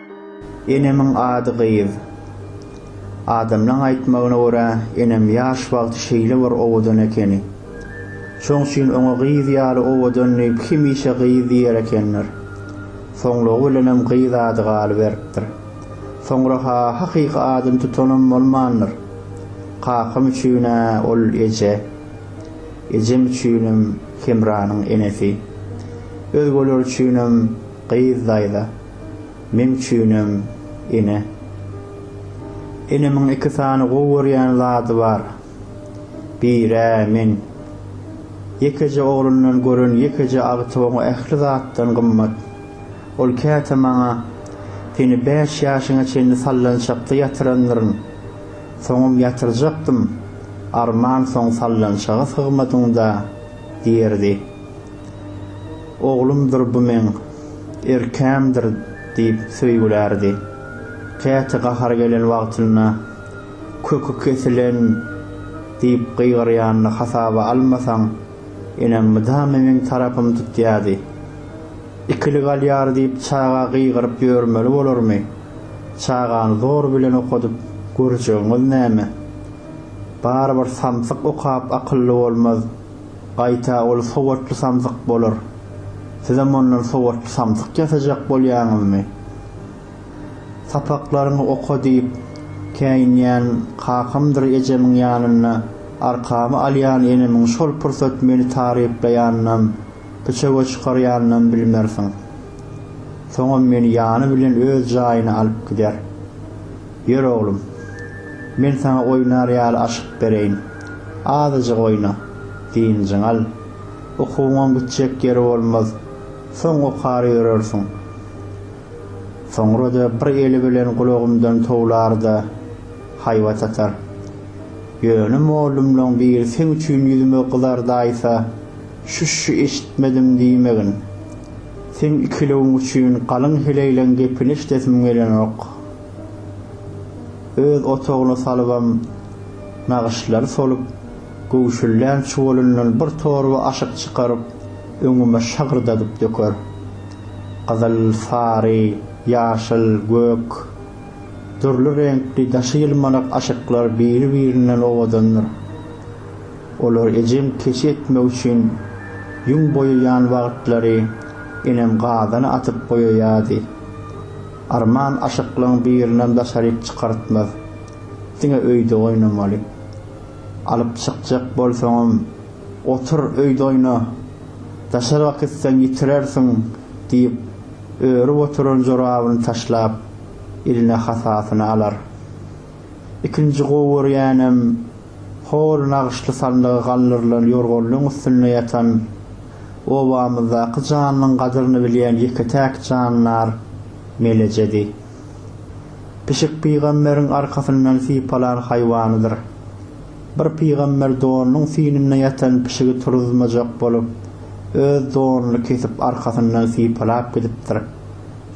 Enemiň ady Gyz. Adamlaň aýtmagyna görä, enem ýaş wagty şeýle bir owadan ekeni. Şoň üçin oňa Gyz ýaly owadan diýip, hemişe Gyz diýer ekenler. Soňlugy bilenem Gyz ady galyberipdir. Soňra-ha hakyky adyny tutanam bolmandyr. Kakam üçin-ä ol eje. Ejem üçinem Hemranyň enesi. Özgeler üçinem Gyz daýza. Meň üçinem ene. Enemiň iki sany gowy görýän zady bar. Bir-ä men. Ýekeje oglundan gören ýekeje agtyk oňa ähli zatdan gymmat. Ol käte maňa, Seni bäş ýaşyňa çenli sallançakda ýatyrandyryn. Soňam ýatyrjakdym. Arman soň sallançaga sygmadyň-da, diýerdi. Oglumdyr bu meň, erkämdir, diýip söýgülärdi. Käte gahary gelen wagtynda, Köki kesilen! diýip gygyryanyny hasaba almasaň, enem mydama meň tarapymy tutýardy. Ikili galýar diýip çaga gygyryp ýörmeli bolarmy? Çagany zor bilen okadyp görjegiňiz näme? Barybir samsyk okap akylly bolmaz. Gaýta ol sowatly samsyk bolar. Sizem ondan sowatly samsyk ýasajak bolýaňyzmy? Sapaklaryňy oka diýip, käýinýän kakamdyr ejemiň ýanynda arkamy alýan enemiň şol pursat meni taryplaýanynam, biçöge çykarýanynam bilmersiň. Soňam meni ýany bilen öz jaýyna alyp gider. Ýör oglum, men saňa oýnar ýaly aşyk bereýin. Azajyk oýna, dynjyňy al. Ukuňyň gitjek ýeri bolmaz. Soň okar ýörersiň. Soňra-da bir eli bilen gulagymdan towlar-da, haýbat atar. Ýöne mollumlaň biri seň üçin ýüzüme gyzardaýsa, şüş-şü eşitmedim diýmegin. Seň ikilewiň üçin galyň heleýleň gepini eşidesim gelenok. Öz otagyna salybam, nagyşlary solup, göwşüllän çuwalyndan bir torba aşyk çykaryp, öňüme şagyrdadyp döker. Gyzyl, sary, ýaşyl, gök, dürli reňkli daşy ýylmanak aşyklar biri-birinden owadandyr. Olary ejem keçi etmek üçin ýüň boýaýan wagtlary enem gazana atyp boýaýardy. Arman aşyklygyň birinem daşaryk çykartmaz. Diňe öýde oýnamaly. Alyp çykjak bolsaňam, otur öýde oýna. Daşaryga gitseň ýitirersiň, diýip, örüp oturan jorabyny taşlap, eline hasasyny alar. Ikinji gowy görýänem. Hol nagyşly sandygy galdyrylan ýorganlygyň üstünde ýatan, obamyzdaky janynyň gadyryny bilýän ýeke-täk jandar Melejedi. Pişik pygamberiň arkasyndan sypalan haýwanydyr. Bir pygamber donunyň synynda ýatan pişigi turuzmajak bolup, öz donuny kesip arkasyndan sypalap gidipdir.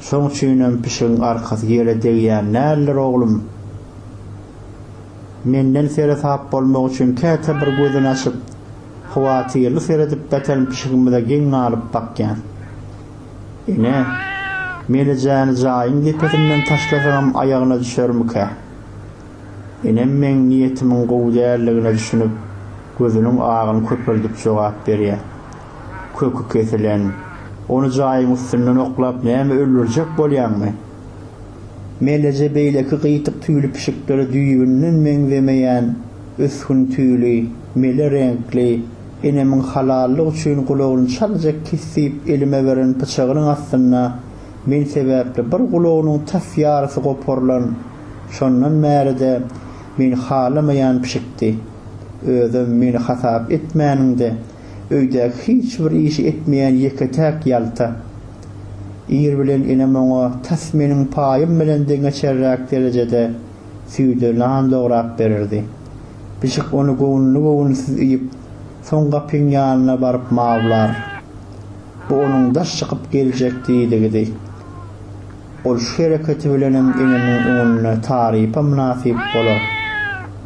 Şoň üçinem pişigiň arkasy ýere degýän däldir, oglum! Menden seresap bolmagy üçin käte bir gözüni açyp, howatyrly seredip ýatan pişigimize geň galyp bakýan. Ene, Melejäni jaýyň depesinden taşlasaňam aýagyna düşermikä? Enem meň niýetimiň gowy däldigine düşünip, gözüniň agyny köpeldip jogap berýär. Köki kesilen, ony jaýyň üstünden oklap näme öldürjek bolýaňmy? Meleje beýleki gyýyk tüýli pişiklere düýbünden meňzemeýän ösgün tüýli, mele reňkli, enemiň halallyk üçin gulagyny çaljak kesip elime beren pyçagynyň astynda men sebäpli bir gulagynyň tas ýarysy goparylan, şondan bäri-de meni halamaýan pişikdi. Özem meni hasap etmäniňde, Öýdäki hiç bir işi etmeýän ýeke-täk ýalta. Ir bilen enem oňa tas meniň paýym bilen deň geçerräk derejede süýde nan dograp bererdi. Pişik ony göwünli-göwünsiz iýip, soň gapyň ýanyna baryp mawlar. Bu onuň daş çykyp geljek diýdigidi. Ol şu hereketi bilenem enemiň öňünde tarypa mynasyp bolar.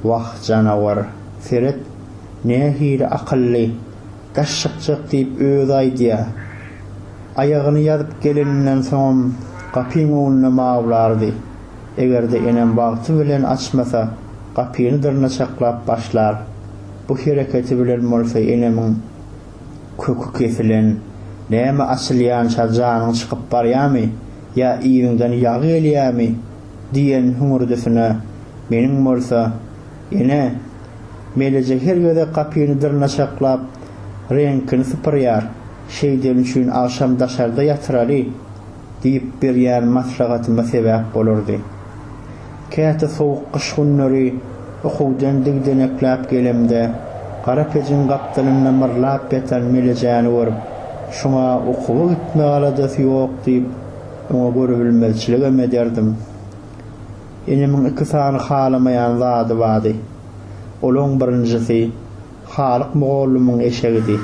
Wah, janawar! Seret! Nähili akylly, daş çykjak diýip özi aýdýa. Aýagyny ýazyp geleninden soňam gapyň öňünde mawlardy. Eger-de enem wagty bilen açmasa, gapyny dyrnaçaklap başlar. Bu hereketi bilen bolsa enemiň köki kesilen. Näme açylýança janyň çykyp barýamy ýa yzyňdan ýag gelýämi diýen hüňürdisine meniň bolsa, Ene, Meleje her gezek gapyny dyrnaşaklap, reňkini sypyrýar, şeýdeni üçin agşam daşarda ýatyraly diýip berýän maslahatyma sebäp bolardy. Käte sowuk gyş günleri okuwdan digdenekläp gelemde, gara pejiň gapdalynda myrlap ýatan Melejäni görüp, şuňa okuwa gitme aladasy ýok diýip, oňa görübilmezçiligem ederdim. Inimiň iki sany halamaýan zady bardy. Olaň birinjisi, Halyk mugallymyň eşegidi.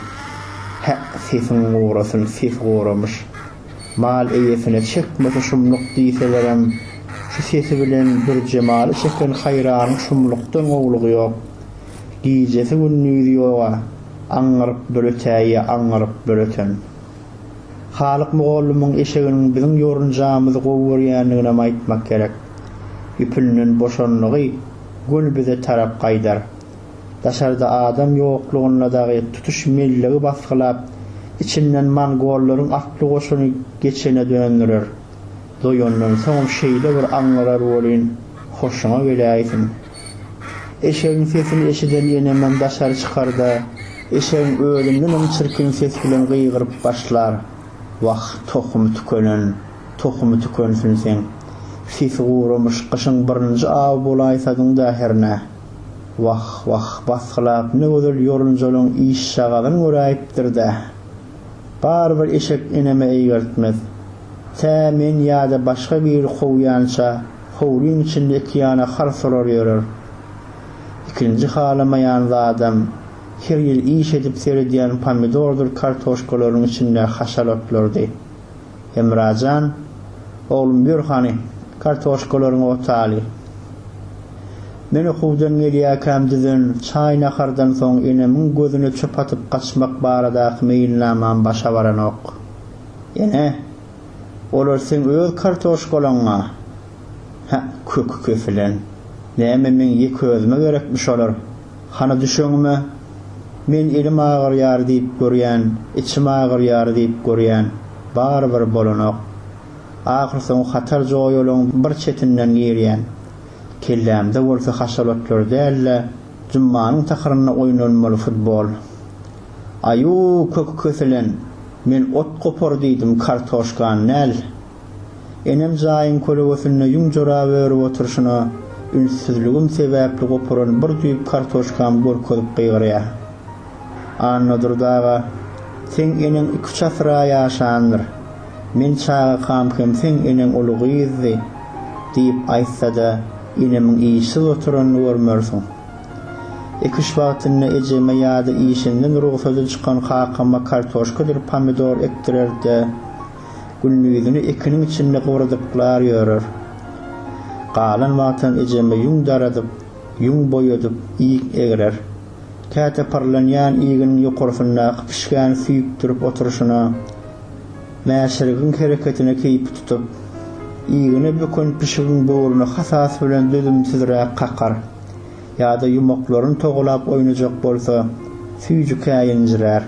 Hä, sesiň gurasyn, sesi guramyş. Mal eýesine çekmesi şumluk diýselerem, şu sesi bilen Dürjemaly çeken haýranyň şumlukdan gowulygy ýok. Gijesi-gündizi ýog-a, aňňyryp böletäýýä, aňňyryp böleten. Halyk mugallymyň eşeginiň biziň ýorunjagymyzy gowy görýändiginem aýtmak gerek. Ýüpünden boşanlygy göl bize tarap gaýdar. Daşarda adam ýoklugynda dagy tutuş mellegi basgylap, içinden mongollaryň atly goşuny geçene döndürer. Doýandan soňam şeýle bir aňňyrar welin, hoşuňa geläýsin. Eşegiň sesini eşiden enemem daşary çykar-da, eşegiň özündenem çirkin ses bilen gygyryp başlar, Wah, tohumy tükenen, tohumy tükensin seň! Sesi guramyş, gyşyň birinji awy bolaýsadyň-da hernä! Wah, wah, basgylap ne gözel ýorunjalyň işjagazyn göräýipdir-dä! Barybir eşek eneme eýgertmez. Tä men ýa-da başga biri kowýança, Howlyň içinde iki ýana halsalar ýörer. Ikinji halamaýan zadam, her ýyl iş edip seredýän pomidordyr kartoşkalaryň içindäki haşalatlardy. Hemrajan, Oglum, ýör hany, kartoşkalaryňy otaly. Men okuwdan gelýärkäm düzen çaý-nahardan soň enemiň gözüne çöp atyp gaçmak baradaky meýilnamam başa baranok. Ene! Olar seň öz kartoşkalaňa Hä, köki kesilen. Näme meň ýeke özüme gerekmi şolar? Hany düşeňime? Men elim agyrýar diýip görýän, içim agyrýar diýip görýän, barybir bolanok. Ahyrsoňy hatar joýalaň bir çetinden girýän. Kellämde bolsa haşalatlar däl-de, jummanyň takyrynda oýnalmaly futbol. Aýuu köki köselen men ot gopar diýdim kartoşkan näl. Enem jaýyň kölegesinde ýüň jorap örüp oturşyna ünssizligim sebäpli goparan bir düýp kartoşkam görkezip gygyrýa. Annadurdy aga seň eneň iki-üç asyra ýaşandyr. Men çagakam hem seň eneň uly gyzdy diýip aýtsada enemiň işsiz oturanyny görmersiň. Ekiş wagtynda ejeme ýa-da işinden rugsaty çykan kakama kartoşkadyr pomidor ekdirer-de, gündizini ekiniň içinde gybrdyklar ýörer. Galan wagtam ejeme ýüň daradyp, ýüň boýadyp, iýg egrer. Käte pyrlanýan iýginiň ýokarsyndaky pişgäni süýkdürip oturyşyna, mäşirgiň hereketine keýpi tutup, iýgine böken pişigiň böwrüni hasasy bilen dözümsizräk kakar. ýa-da ýumaklaryn togalap oýnajak bolsa, süýji käýinjirär.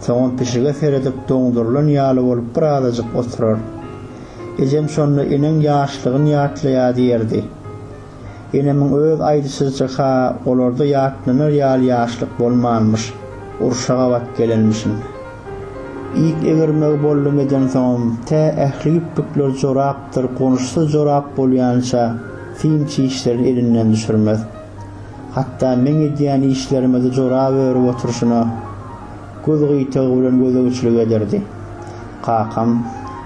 Soňam pişige seredip doňdurylan ýaly bolup birazajyk oturar. Ejem şonda Eneň ýaşlygyn ýatlaýa diýerdi. Enemiň öz aýdyşyzça-ha olarda ýatlanar ýaly ýaşlyk bolmanmyş, urşa gabat gelenmişin. Ýüp egirmegi bollum edensoňam tä ähli ýüplükler jorapdyr gonuşsyz jorap bolýança, Syn çişlerini elinden düşürmez. Hatda meň edýän işlerime-de jorap örüp oturyşyna göz gyýtagy bilen gözegçilik ederdi. Kakam,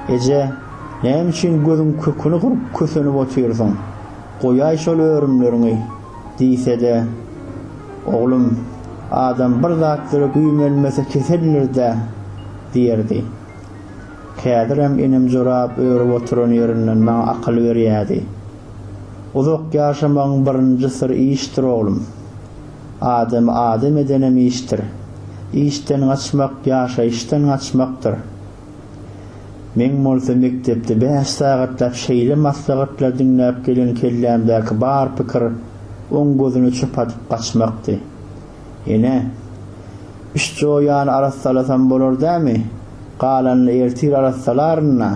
Eje, näme üçin gözüň köküni gyryp kösenip otyrsyň? Goýaý şol örümleriňi! diýse-de, Oglum, adam bir zatlara güýmenmese keseldir-dä! diýerdi. Häzirem inim jorap örüp oturan ýerinden maňa akyl berýärdi. Uzak ýaşamagyň birinji syry işdir oglum. Adamy adam edenem işdir. Işden gaçmak ýaşaýyşdan gaçmakdyr. Meň bolsa mekdepde bäş sagatlap şeýle maslahatlar diňläp gelen kellämdäki bar pikir oň gözüne çöp atyp gaçmakdy. Ene, üç joýany arassalasam bolar dämi? Galanyny ertir arassalaryn-a.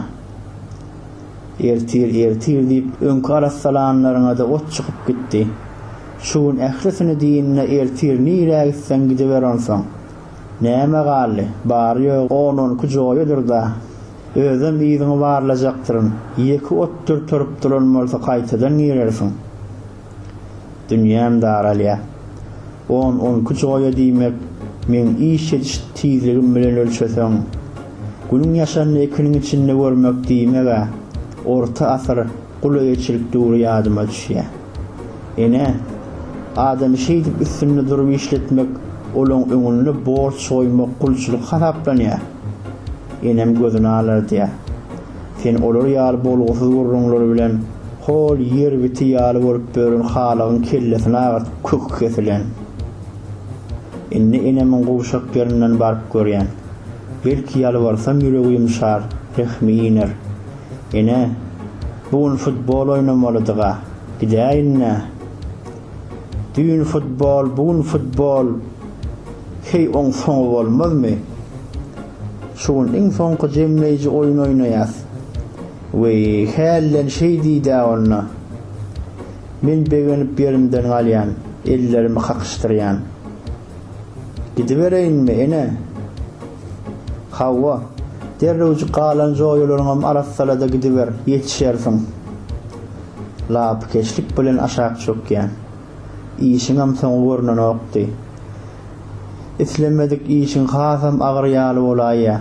Ertir, ertir diýip, öňki arassalanlaryňa-da ot çykyp gitdi. Şu gün ählisini diýin-de, ertir nirä gitseň gidiber onsoň. Näme galdy? Bary-ýogy on-on iki joýadyr-da. Özem yzyňy barlajakdyryn. Ýeke otdur turup duran bolsa gaýtadan girersiň. Dünýäm daralýar. On, on iki joýa diýmek, meň iş ediş tizligim bilen ölçeseň, günüň ýaşanyny ikiniň içinde görmek diýmek-ä. Orta asyr gul eýeçilik döwri ýadyma düşýär. Ene, adamy şeýdip üstünde durup işletmek, olaň öňünde borç goýmak gulçulyk hasaplanýar. Enem gözüni alardýar. Sen olar ýaly bolgusyz gürrüňler bilen hol ýer biti ýaly bolup bören halygyň kellesini agyrtyp köki kesilen. Indi enemiň gowşak ýerinden baryp görýän. Belki ýalbarsam ýüregi ýumşar, rehmi iner. Ene, bu gün futbol oýnamalydyga, gidäýin-dä. Düýn futbol, bu gün futbol, heý oň soňy bolmazmy? Şu gün iň soňky jemleýji oýun oýnaýas. Weý, hälden şeý diý-dä onda. Men begenip ýerimden galýan, ellerimi kakyşdyrýan. Gidibereýinmi, ene? Hawa. Derrewjik galan joýalaryňam arassala-da gidiber, ýetişersiň. Lapykeçlik bilen aşak çökýän. Işiňem soňy görnenokdy. Islemedik işiň hasam agyr ýaly bolaýýar.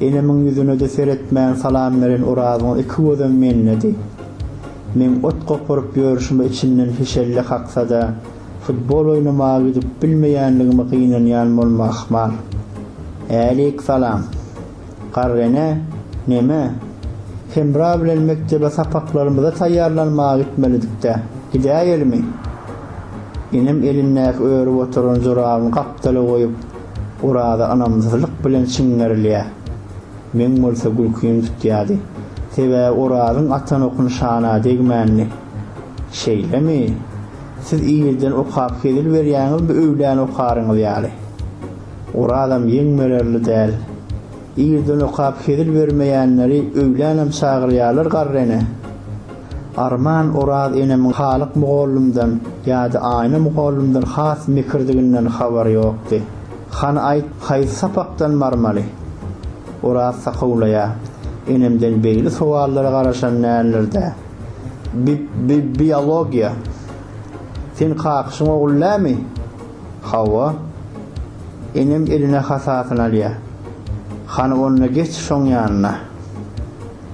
Enemiň ýüzüne-de seretmän salam beren Orazyň iki gözem mendedi. Meň ot goparyp ýörşüme içinden hişelle kaksa-da, futbol oýnamaga gidip bilmeýänligime gynanýan bolma ahmal. Äleýk salam. Garrene, neme? Hemra bilen mekdebe sapaklarymyza taýýarlanmaga gitmelidik-dä. Gidäýelimi? Enem elindäki örüp oturan jorabyny gapdala goýup, Oraza ynamsyzlyk bilen çiňerilýär. Meň bolsa gülkim tutýardy. Sebäbi Orazyň atan okun şana degmändi. Şeýlemi? Siz irden okap hezil berýäňizmi öwlän okaryňyz ýaly? Orazam ýeň bererli däl. Irden okap hezil bermeýänleri öýlänem çagyrýarlar garreni. Arman Oraz enemiň Halyk mugallymdan ýa-da Aýna mugallymdan has mekirdiginden habary ýokdy. Hany aýt, haýsy sapakdan barmaly? Oraz sakawlaýar. Enemden begli sowallara garaşan däldir-dä. Bi-bi-biologiýa. Sen kakyşyň ogly dämi? Hawa. Enem eline hasasyny alýar. Hany onda geç şoň ýanyna.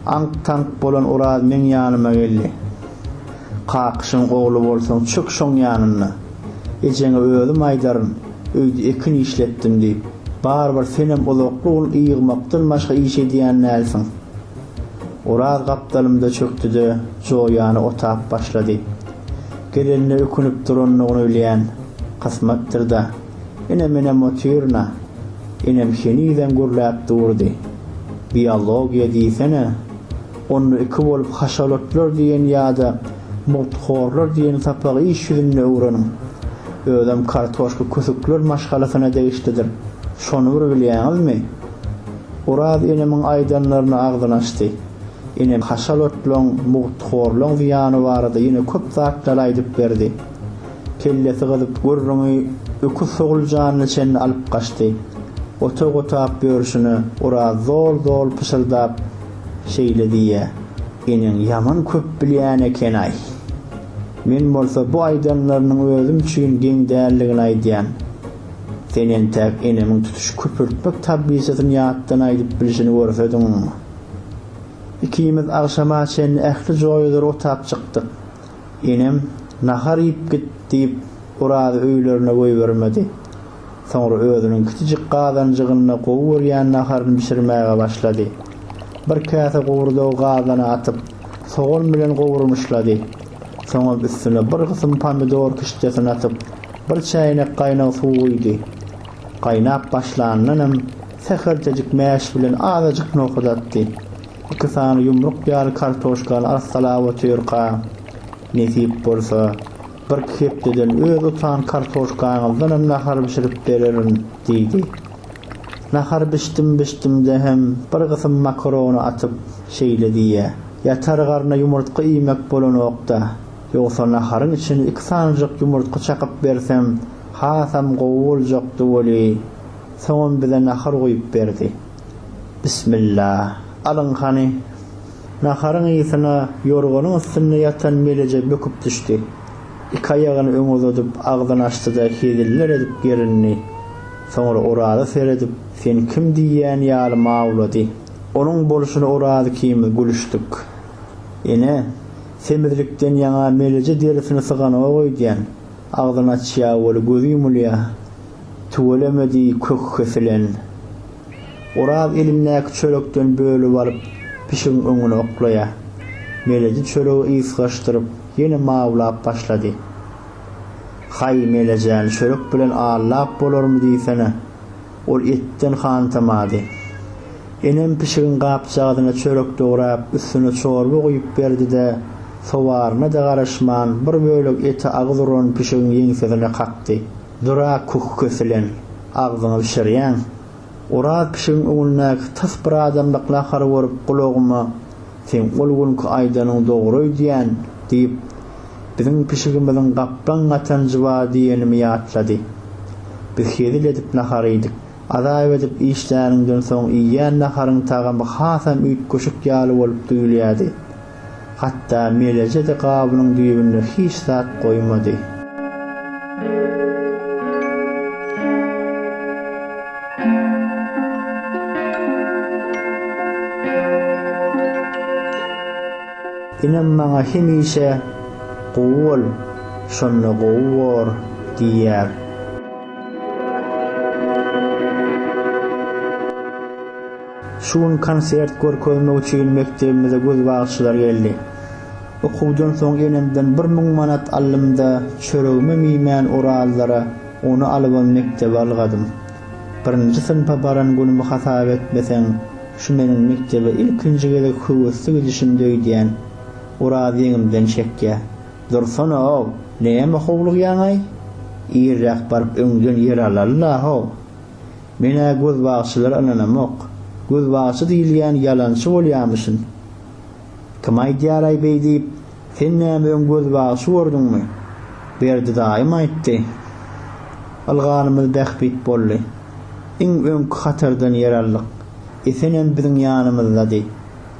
Aňk-taňk bolan Oraz meň ýanyma geldi. Kakyşyň ogly bolsaň çök şoň ýanyna. Ejeňe özüm aýdaryn, öýde ekin işletdim diýip. Barybir senem uzakly un ýygmakdan başga iş edýän dälsiň. Oraz gapdalymda çökdi-de, joýany otap başlady. Gelenine ökünip durandygyny bilýän Kysmatdyr-da, Ine, menem otyryn-a! Enem henizem gürläp durdy. Biologiýa diýsene! Onda iki bolup haşalotlar diýen ýa-da mugthorlar diýen sapagy iş ýüzünde öwreniň. Özem kartoşka kösükler maşgalasyna degişlidir. Şony bir bilýäňizmi? Oraz enemiň aýdanlaryna agzyny açdy. Enem haşal otlaň, mugthorlaň zyýany barada ýene köp zatlar aýdyp berdi. Kellesi gyzyp gürrüňi öküz soguljanyna çenli alyp gaçdy. Otag otap ýörşüne Oraz zol-zol pyşyrdap şeýle diýýä. Eneň ýaman köp bilýän eken-aý. Men bolsa bu aýdanlarynyň özüm üçin geň däldigini aýdýan. Sen entäk enemiň tutuş köpürtmek tablisasyny ýatdan aýdyp bilşini görsediň. Ikimiz agşama çenli ähli joýadyr otap çykdyk. Enem, Nahar iýip git diýip, Orazy öýlerine goýbermedi. Soňra özüniň kiçijik gazanjygynda gowy görýän naharyny bişirmäge başlady. Bir käse gowurdagy gazana atyp, sogan bilen gowurmyşlady. Soňam üstüne bir gysym pomidor kişdesini atyp, bir çäýnek gaýnag suw guýdy. Gaýnap başlanyndanam Sähelçejik mäş bilen azajyk nohut atdy. Iki sany ýumruk ýaly kartoşkany arassalap otyrka, Nesip bolsa, birki hepdeden öz otan kartoşkaňyzdanam nahar bişirip bererin, diýdi. Nahar bişdim-bişdim-de hem bir gysym makarony atyp, şeýle diýýä, Ýatar garna ýumurtga iýmek bolanok-da, ýogsa naharyň içine iki sanyjyk ýumurtga çakyp bersem, hasam gowy boljakdy weli, Soňam bize nahar guýup berdi. Bismilla. Alyň hany. Naharyň ysyna ýorganyň üstünde ýatan Meleje böküp düşdi. Iki aýagyny öňe uzadyp, agzyny açdy-da heziller edip gerindi. Soňra Oraza seredip, Sen kim diýýän ýaly mawlady. Onuň bolşuna Oraza ikimiz gülüşdik. Ene, semizlikden ýaňa Meleje derisini syganok öýdýän. Agzyny açýa weli gözi ýumulýa. Tüweleme diý kök kesilen. Oraz elindäki çörekden bölüp alyp pişigiň öňüne oklaýa. Meleji çöregi ysgaşdyryp ýene mawlap başlady. Haý Melejäni çörek bilen allap bolarmy diýsene. Ol etden hantamady. Enem pişigiň gapjagazyna çörek dograp üstüne çorba guýup berdide sowaryna-da garaşman bir bölek eti agyz uran pişigiň ýeňsesine kakdy. Dura küh kesilen, agzyňy bişirýäň. Oraz pişigiň öňündäki tas bir adamlyk nahary görüp gulagyma, Seň ol günki aýdanyň dogry öýdýän, diýip, biziň pişigimiziň gaplaň gatanjy bar diýenimi ýatlady. Biz hezil edip nahar iýdik. Azap edip işläniňden soň iýýän naharyň tagamy hasam üýtgeşik ýaly bolup duýulýardy. Hatda Meleje-de gabynyň düýbünde hiç zat goýmady. Enem maňa hemişe, Gowy bol, şonda gowy bor diýýär. Şu gün konsert görkezmek üçin mekdebimize göz bagçylar geldi. Okuwdan soň enemden bir müň manat aldym-da, çöregimem iýmän Orazlara ony alybam mekdebe ylgadym. Birinji synpa baran günümi hasap etmeseň, şu meniň mekdebe ilkinji gezek höwesli gidişimdi öýdýän. Oraz ýeňimden çekýär. Dursana-ow, näme howlugýaň-aý? Irräk baryp öňden ýer alal-la-how! Men-ä gözbagçylara ynanamok. Gözbagçy diýilýän ýalançy bolýamyşyn. Kim aýdýaraý beý diýip, sen näme öň gözbagçy gördüňmi? Berdi daýym aýtdy. Ylganymyz bähbit boldy. Iň öňki hatardan ýer aldyk. Esenem biziň ýanymyzdady.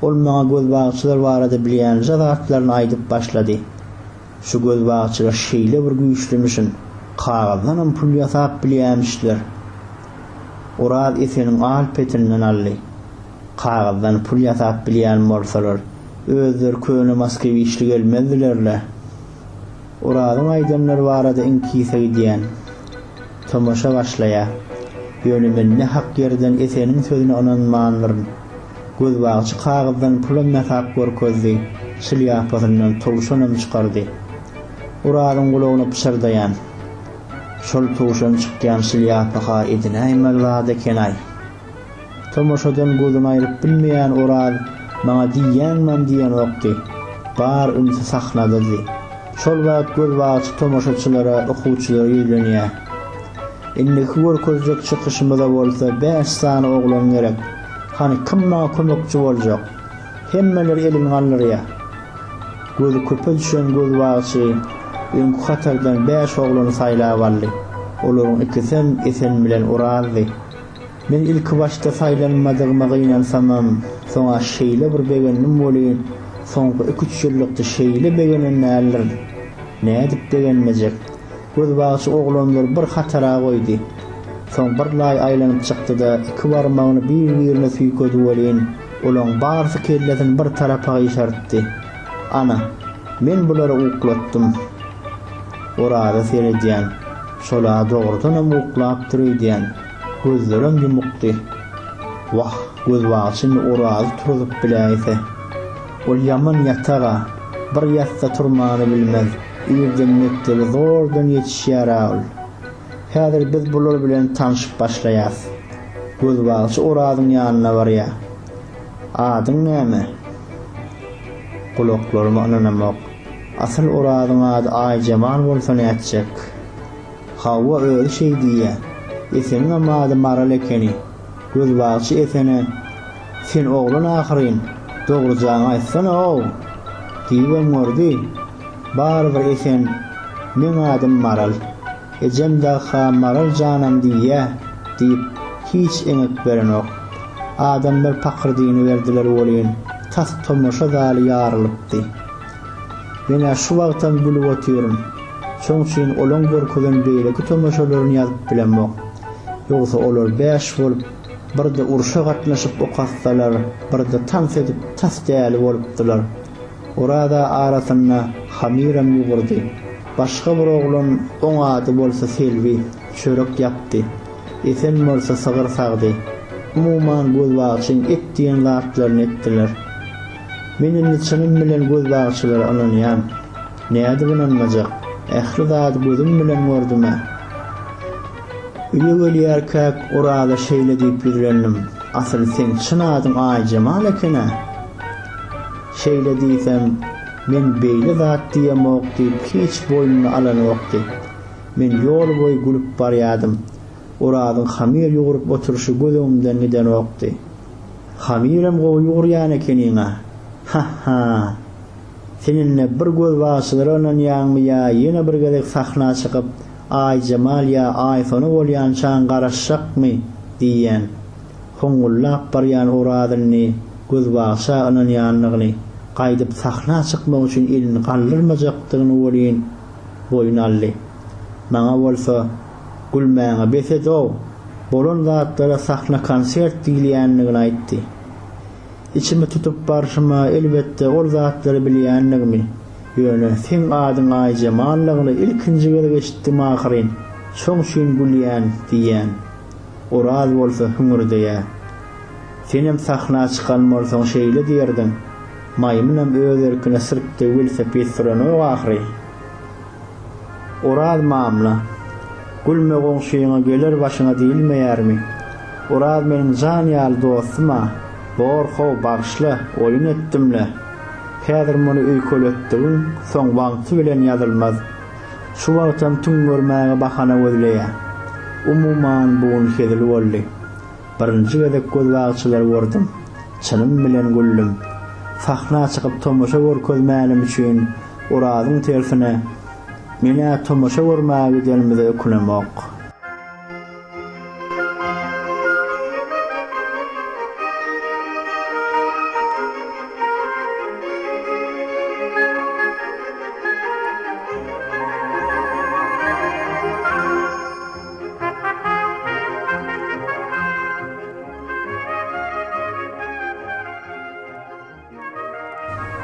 Ol maňa gözbagçylar barada bilýänlja zatlaryny aýdyp başlady. Şu gözbagçylar şeýle bir güýçlümüşin, kagyzdanam pul ýasap bilýämişler. Oraz Eseniň al-petinden aldy. Kagyzdan pul ýasap bilýän bolsalar, özleri köne moskewiçli gelmezdiler-le. Orazyň aýdanlary barada iňkise gidýän. Tomaşa başlaýar. Ýöne men ne hak ýerden Eseniň sözüne ynanmandyryn. Gözbagçy kagyzdan pulam ýasap görkezdi, şlýapasyndan towşanam çykardy. Orazyň gulagyna pyşyrdaýan, Şol towşan çykýan şlýapa-ha edinäýmeli zat eken-aý. Tomaşadan gözüni aýryp bilmeýän Oraz maňa diýýäňmem diýenokdy. Bar ünsi sahnadydy. Şol wagt gözbagçy tomaşaçylara, okuwçylara ýüzlenýär. Indiki görkezjek çykyşymyza bolsa bäş sany oglan gerek. Hany, kim maňa kömekçi boljak? Hemmeler elini galdyrýar. Gözi köpe düşen gözbagçy öňki hatardan bäş oglany saýlap aldy. Olaryň ikisem Esen bilen Orazdy. Men ilkibaşda saýlanmadygyma gynansamam, soň-a şeýle bir begendim welin, soňky iki-üç ýyllykda şeýle begenen däldirin. Nädip begenmejek? Gözbagçy oglanlary bir hatara goýdy. Soň birlaý aýlanyp çykdy-da, iki barmagyny bir-birine tüýkedi welin, olaň barysy kellesini bir tarapa gyşartdy. Ana, men bulary uklatdym. Oraza seredýän. Şol-a dogrudanam uklapdyr öýdýän. Gözlerem ýumukdy. Wah, gözbagyç indi Orazy turzup biläýse. Ol ýaman ýatak-a. Bir ýatsa turmany bilmez. Irden mekdebe zordan ýetişýär-ä ol. Häzir biz bular bilen tanşyp başlaýas. Gözbagçy Orazyň ýanyna barýar. Adyň näme? Gulaklaryma ynanamok. Asyl Orazyň ady Aýjemal bolsa nätjek? Hawa, özi şeý diýýä. Eseniňem ady Maral ekeni. Gözbagçy Esene, Sen oglan ahyryn, dogrujaňy aýtsana-ow! diýibem gördi. Barybir Esen, Meň adym Maral. Ejem dag-ha Maral janam diýýä, diýip, hiç eňek berenok. Adamlar pakyrdyny berdiler welin, tas tomaşa zaly ýarylypdy. Men-ä şu wagtam gülüp otyryn. Şoň üçin olaň görkezen beýleki tomaşalaryny ýazyp bilemok. Ýogsa olar bäş bolup, birde urşa gatnaşyp okassalar, birde tans edip tas däli bolupdylar. Oraz-a arasynda hamyram ýugurdy. Başga bir oglan, oň ady bolsa Selbi, çörek ýapdy. Esen bolsa sygyr sagdy. Umuman, gözbagçyň et diýen zatlaryny etdiler. Men indi çynym bilen gözbagçylara ynanýan. Nädip ynanmajak? Ähli zady gözüm bilen gördüm-ä. Öýe gelýärkäk Oraza şeýle diýip ýüzlendim, Asyl seň çyn adyň Aýjemal eken-ä. Şeýle diýsem, men beýle zat diýemok diýip hiç boýnuna alanokdy. Men ýol boýy gülüp barýadym. Orazyň hamyr ýugrup oturyşy göz öňümden gidenokdy. Hamyrem gowy ýugrýan ekeniň-a. Ha-ha. Sen indi bir gözbaşçylara ynanýaňmy ýa ýene bir gezek sahna çykyp, Aýjemal ýa Aýsona bolýançaň garaşjakmy? diýýän. Hoňňullap barýan Oraz indi gözbagşa ynanýandygyny, gaýdyp sahna çykmak üçin elini galdyrmajakdygyny welin boýun aldy. Maňa bolsa Gülmäňe bes ed-ow, bolan zatlara sahna konsert diýilýändigini aýtdy. Içimi tutup barşyma, elbetde, ol zatlary bilýändigimi, ýöne seň adyň Aýjemallygyny ilkinji gezek eşitdim ahyryn, şoň üçin gülýän, diýýän. Oraz bolsa hüňürdeýär. Senem sahna çykan bolsaň şeýle diýerdiň, maýmynam öz erkine sirkde welosiped sürenok ahyry. Oraz mamla, Gülme goňşyňa geler başyňa diýilmeýärmi? Oraz meniň jan ýaly dostum-a, bor-how, bagyşla, oýun etdim-le. Häzir muny öýkeletdigiň soň wagty bilen ýazylmaz. Şu wagtam tüňňermäge bahana gözleýä. Umuman, bu gün hezil boldy. Birinji gezek gözbagçylary gördüm. Çynym bilen güldüm. Sahna çykyp tomaşa görkezmänim üçin Orazyň tersine, Men-ä tomaşa görmäge gidenimize ökünemok.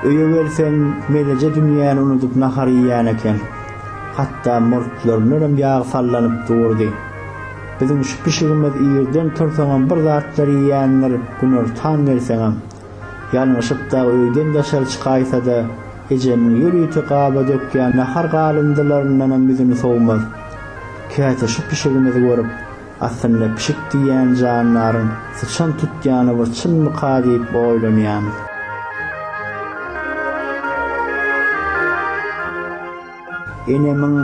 Öýe gelsem, Meleje dünýäni unudyp nahar iýýän eken. Hatda murtlaryndan hem ýag sallanyp durdy. Biziň şu pişigimiz irden tursaňam bir zatlar iýýändir, günortan gelseňem. Ýalňyşyp dagy öýden daşary çykaýsa-da, ejemiň ýörite gaba dökýän nahar galyndylaryndanam ýüzüni sowmaz. Käte şu pişigimizi görüp, aslynda pişik diýýän jandaryň syçan tutýany bir çynmyka diýip oýlanýarmyz. Enemiň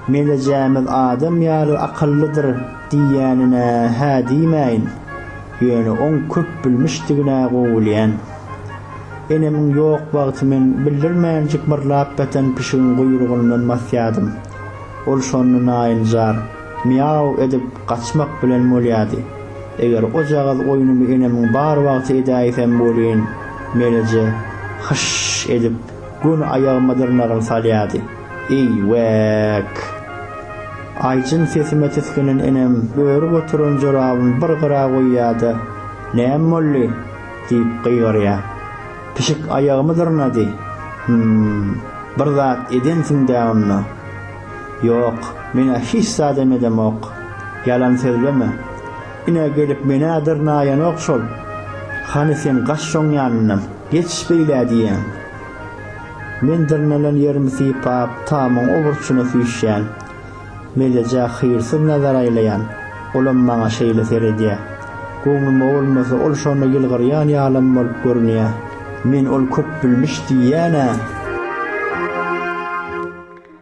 Melejämiz adam ýaly akyllydyr diýýänine hä diýmäýin, ýöne oň köpbilmişdigine gowulýan. Enemiň ýok wagty men bildirmänjik myrlap ýatan pişigiň guýrugyndan basýadym. Ol şonda naýynjar Mýaw edip gaçmak bilen bolýady. Eger ojagaz oýnumy enemiň bar wagty edäýsem welin, Meleje hyş edip. Göni aýagyma dyrnagyn salýardy. Eý, wäk! Aýjyn sesime tisginen enem örüp oturan jorabyny bir gyra goýýar-da, Näme boldy? diýip gygyrýar. Pişik aýagymy dyrnady. Hüm, bir zat edensiň-dä onda? Ýok, men-ä hiç zadam edemok. Ýalan sözleme. Ine, gelip men-ä dyrnaýanok şol. Hany sen gaç şoň ýanyndan, geç beýlä diýýän. Men dyrnalan ýerimi sypap, tamyň o burçuna süýşýän. Mellejä hyýrsyz nazar aýlaýan. Olam maňa şeýle seredýä. Göwnüme bolmasa, ol şonda ýylgyrýan ýalam bolup görünýä. Men ol köpbilmiş diýýän-ä.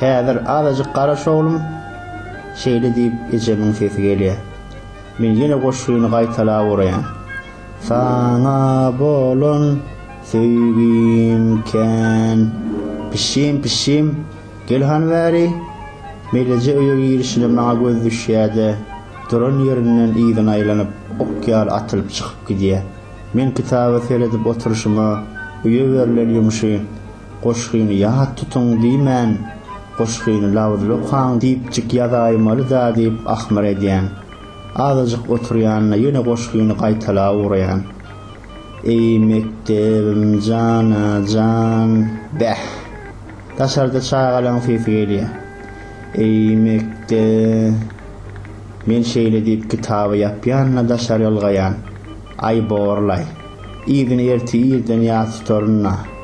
Häzir azajyk garaş oglum, şeýle diýip ejemiň sesi gelýär. Men ýene goşgyny gaýtalap uraýan. Saňa bolan söýgim kän. Pişim, pişim, gel hany bäri. Meleje öýe girişine maňa göz düşýär-de, duran ýerinden yzyna aýlanyp, ok ýaly atylyp çykyp gidýär. Men kitaba seredip oturyşyma öýe berlen ýumşy. Goşgyny ýat tutuň diýmän, goşgyny labyzly okaň diýipjik ýazaýmaly-da diýip ahmyr edýän. Azajyk oturýan-da ýene goşgyny gaýtalap ugraýan. Eý, mekdebim jan-a, jan! Bäh! Daşarda çagalaň sesi gelýär. Eý, mekde-e! Men şeýle diýip kitaby ýapýan-da daşary ylgaýan. Aý, borlaý! Yzyny ertir irden ýat tutaryn-a.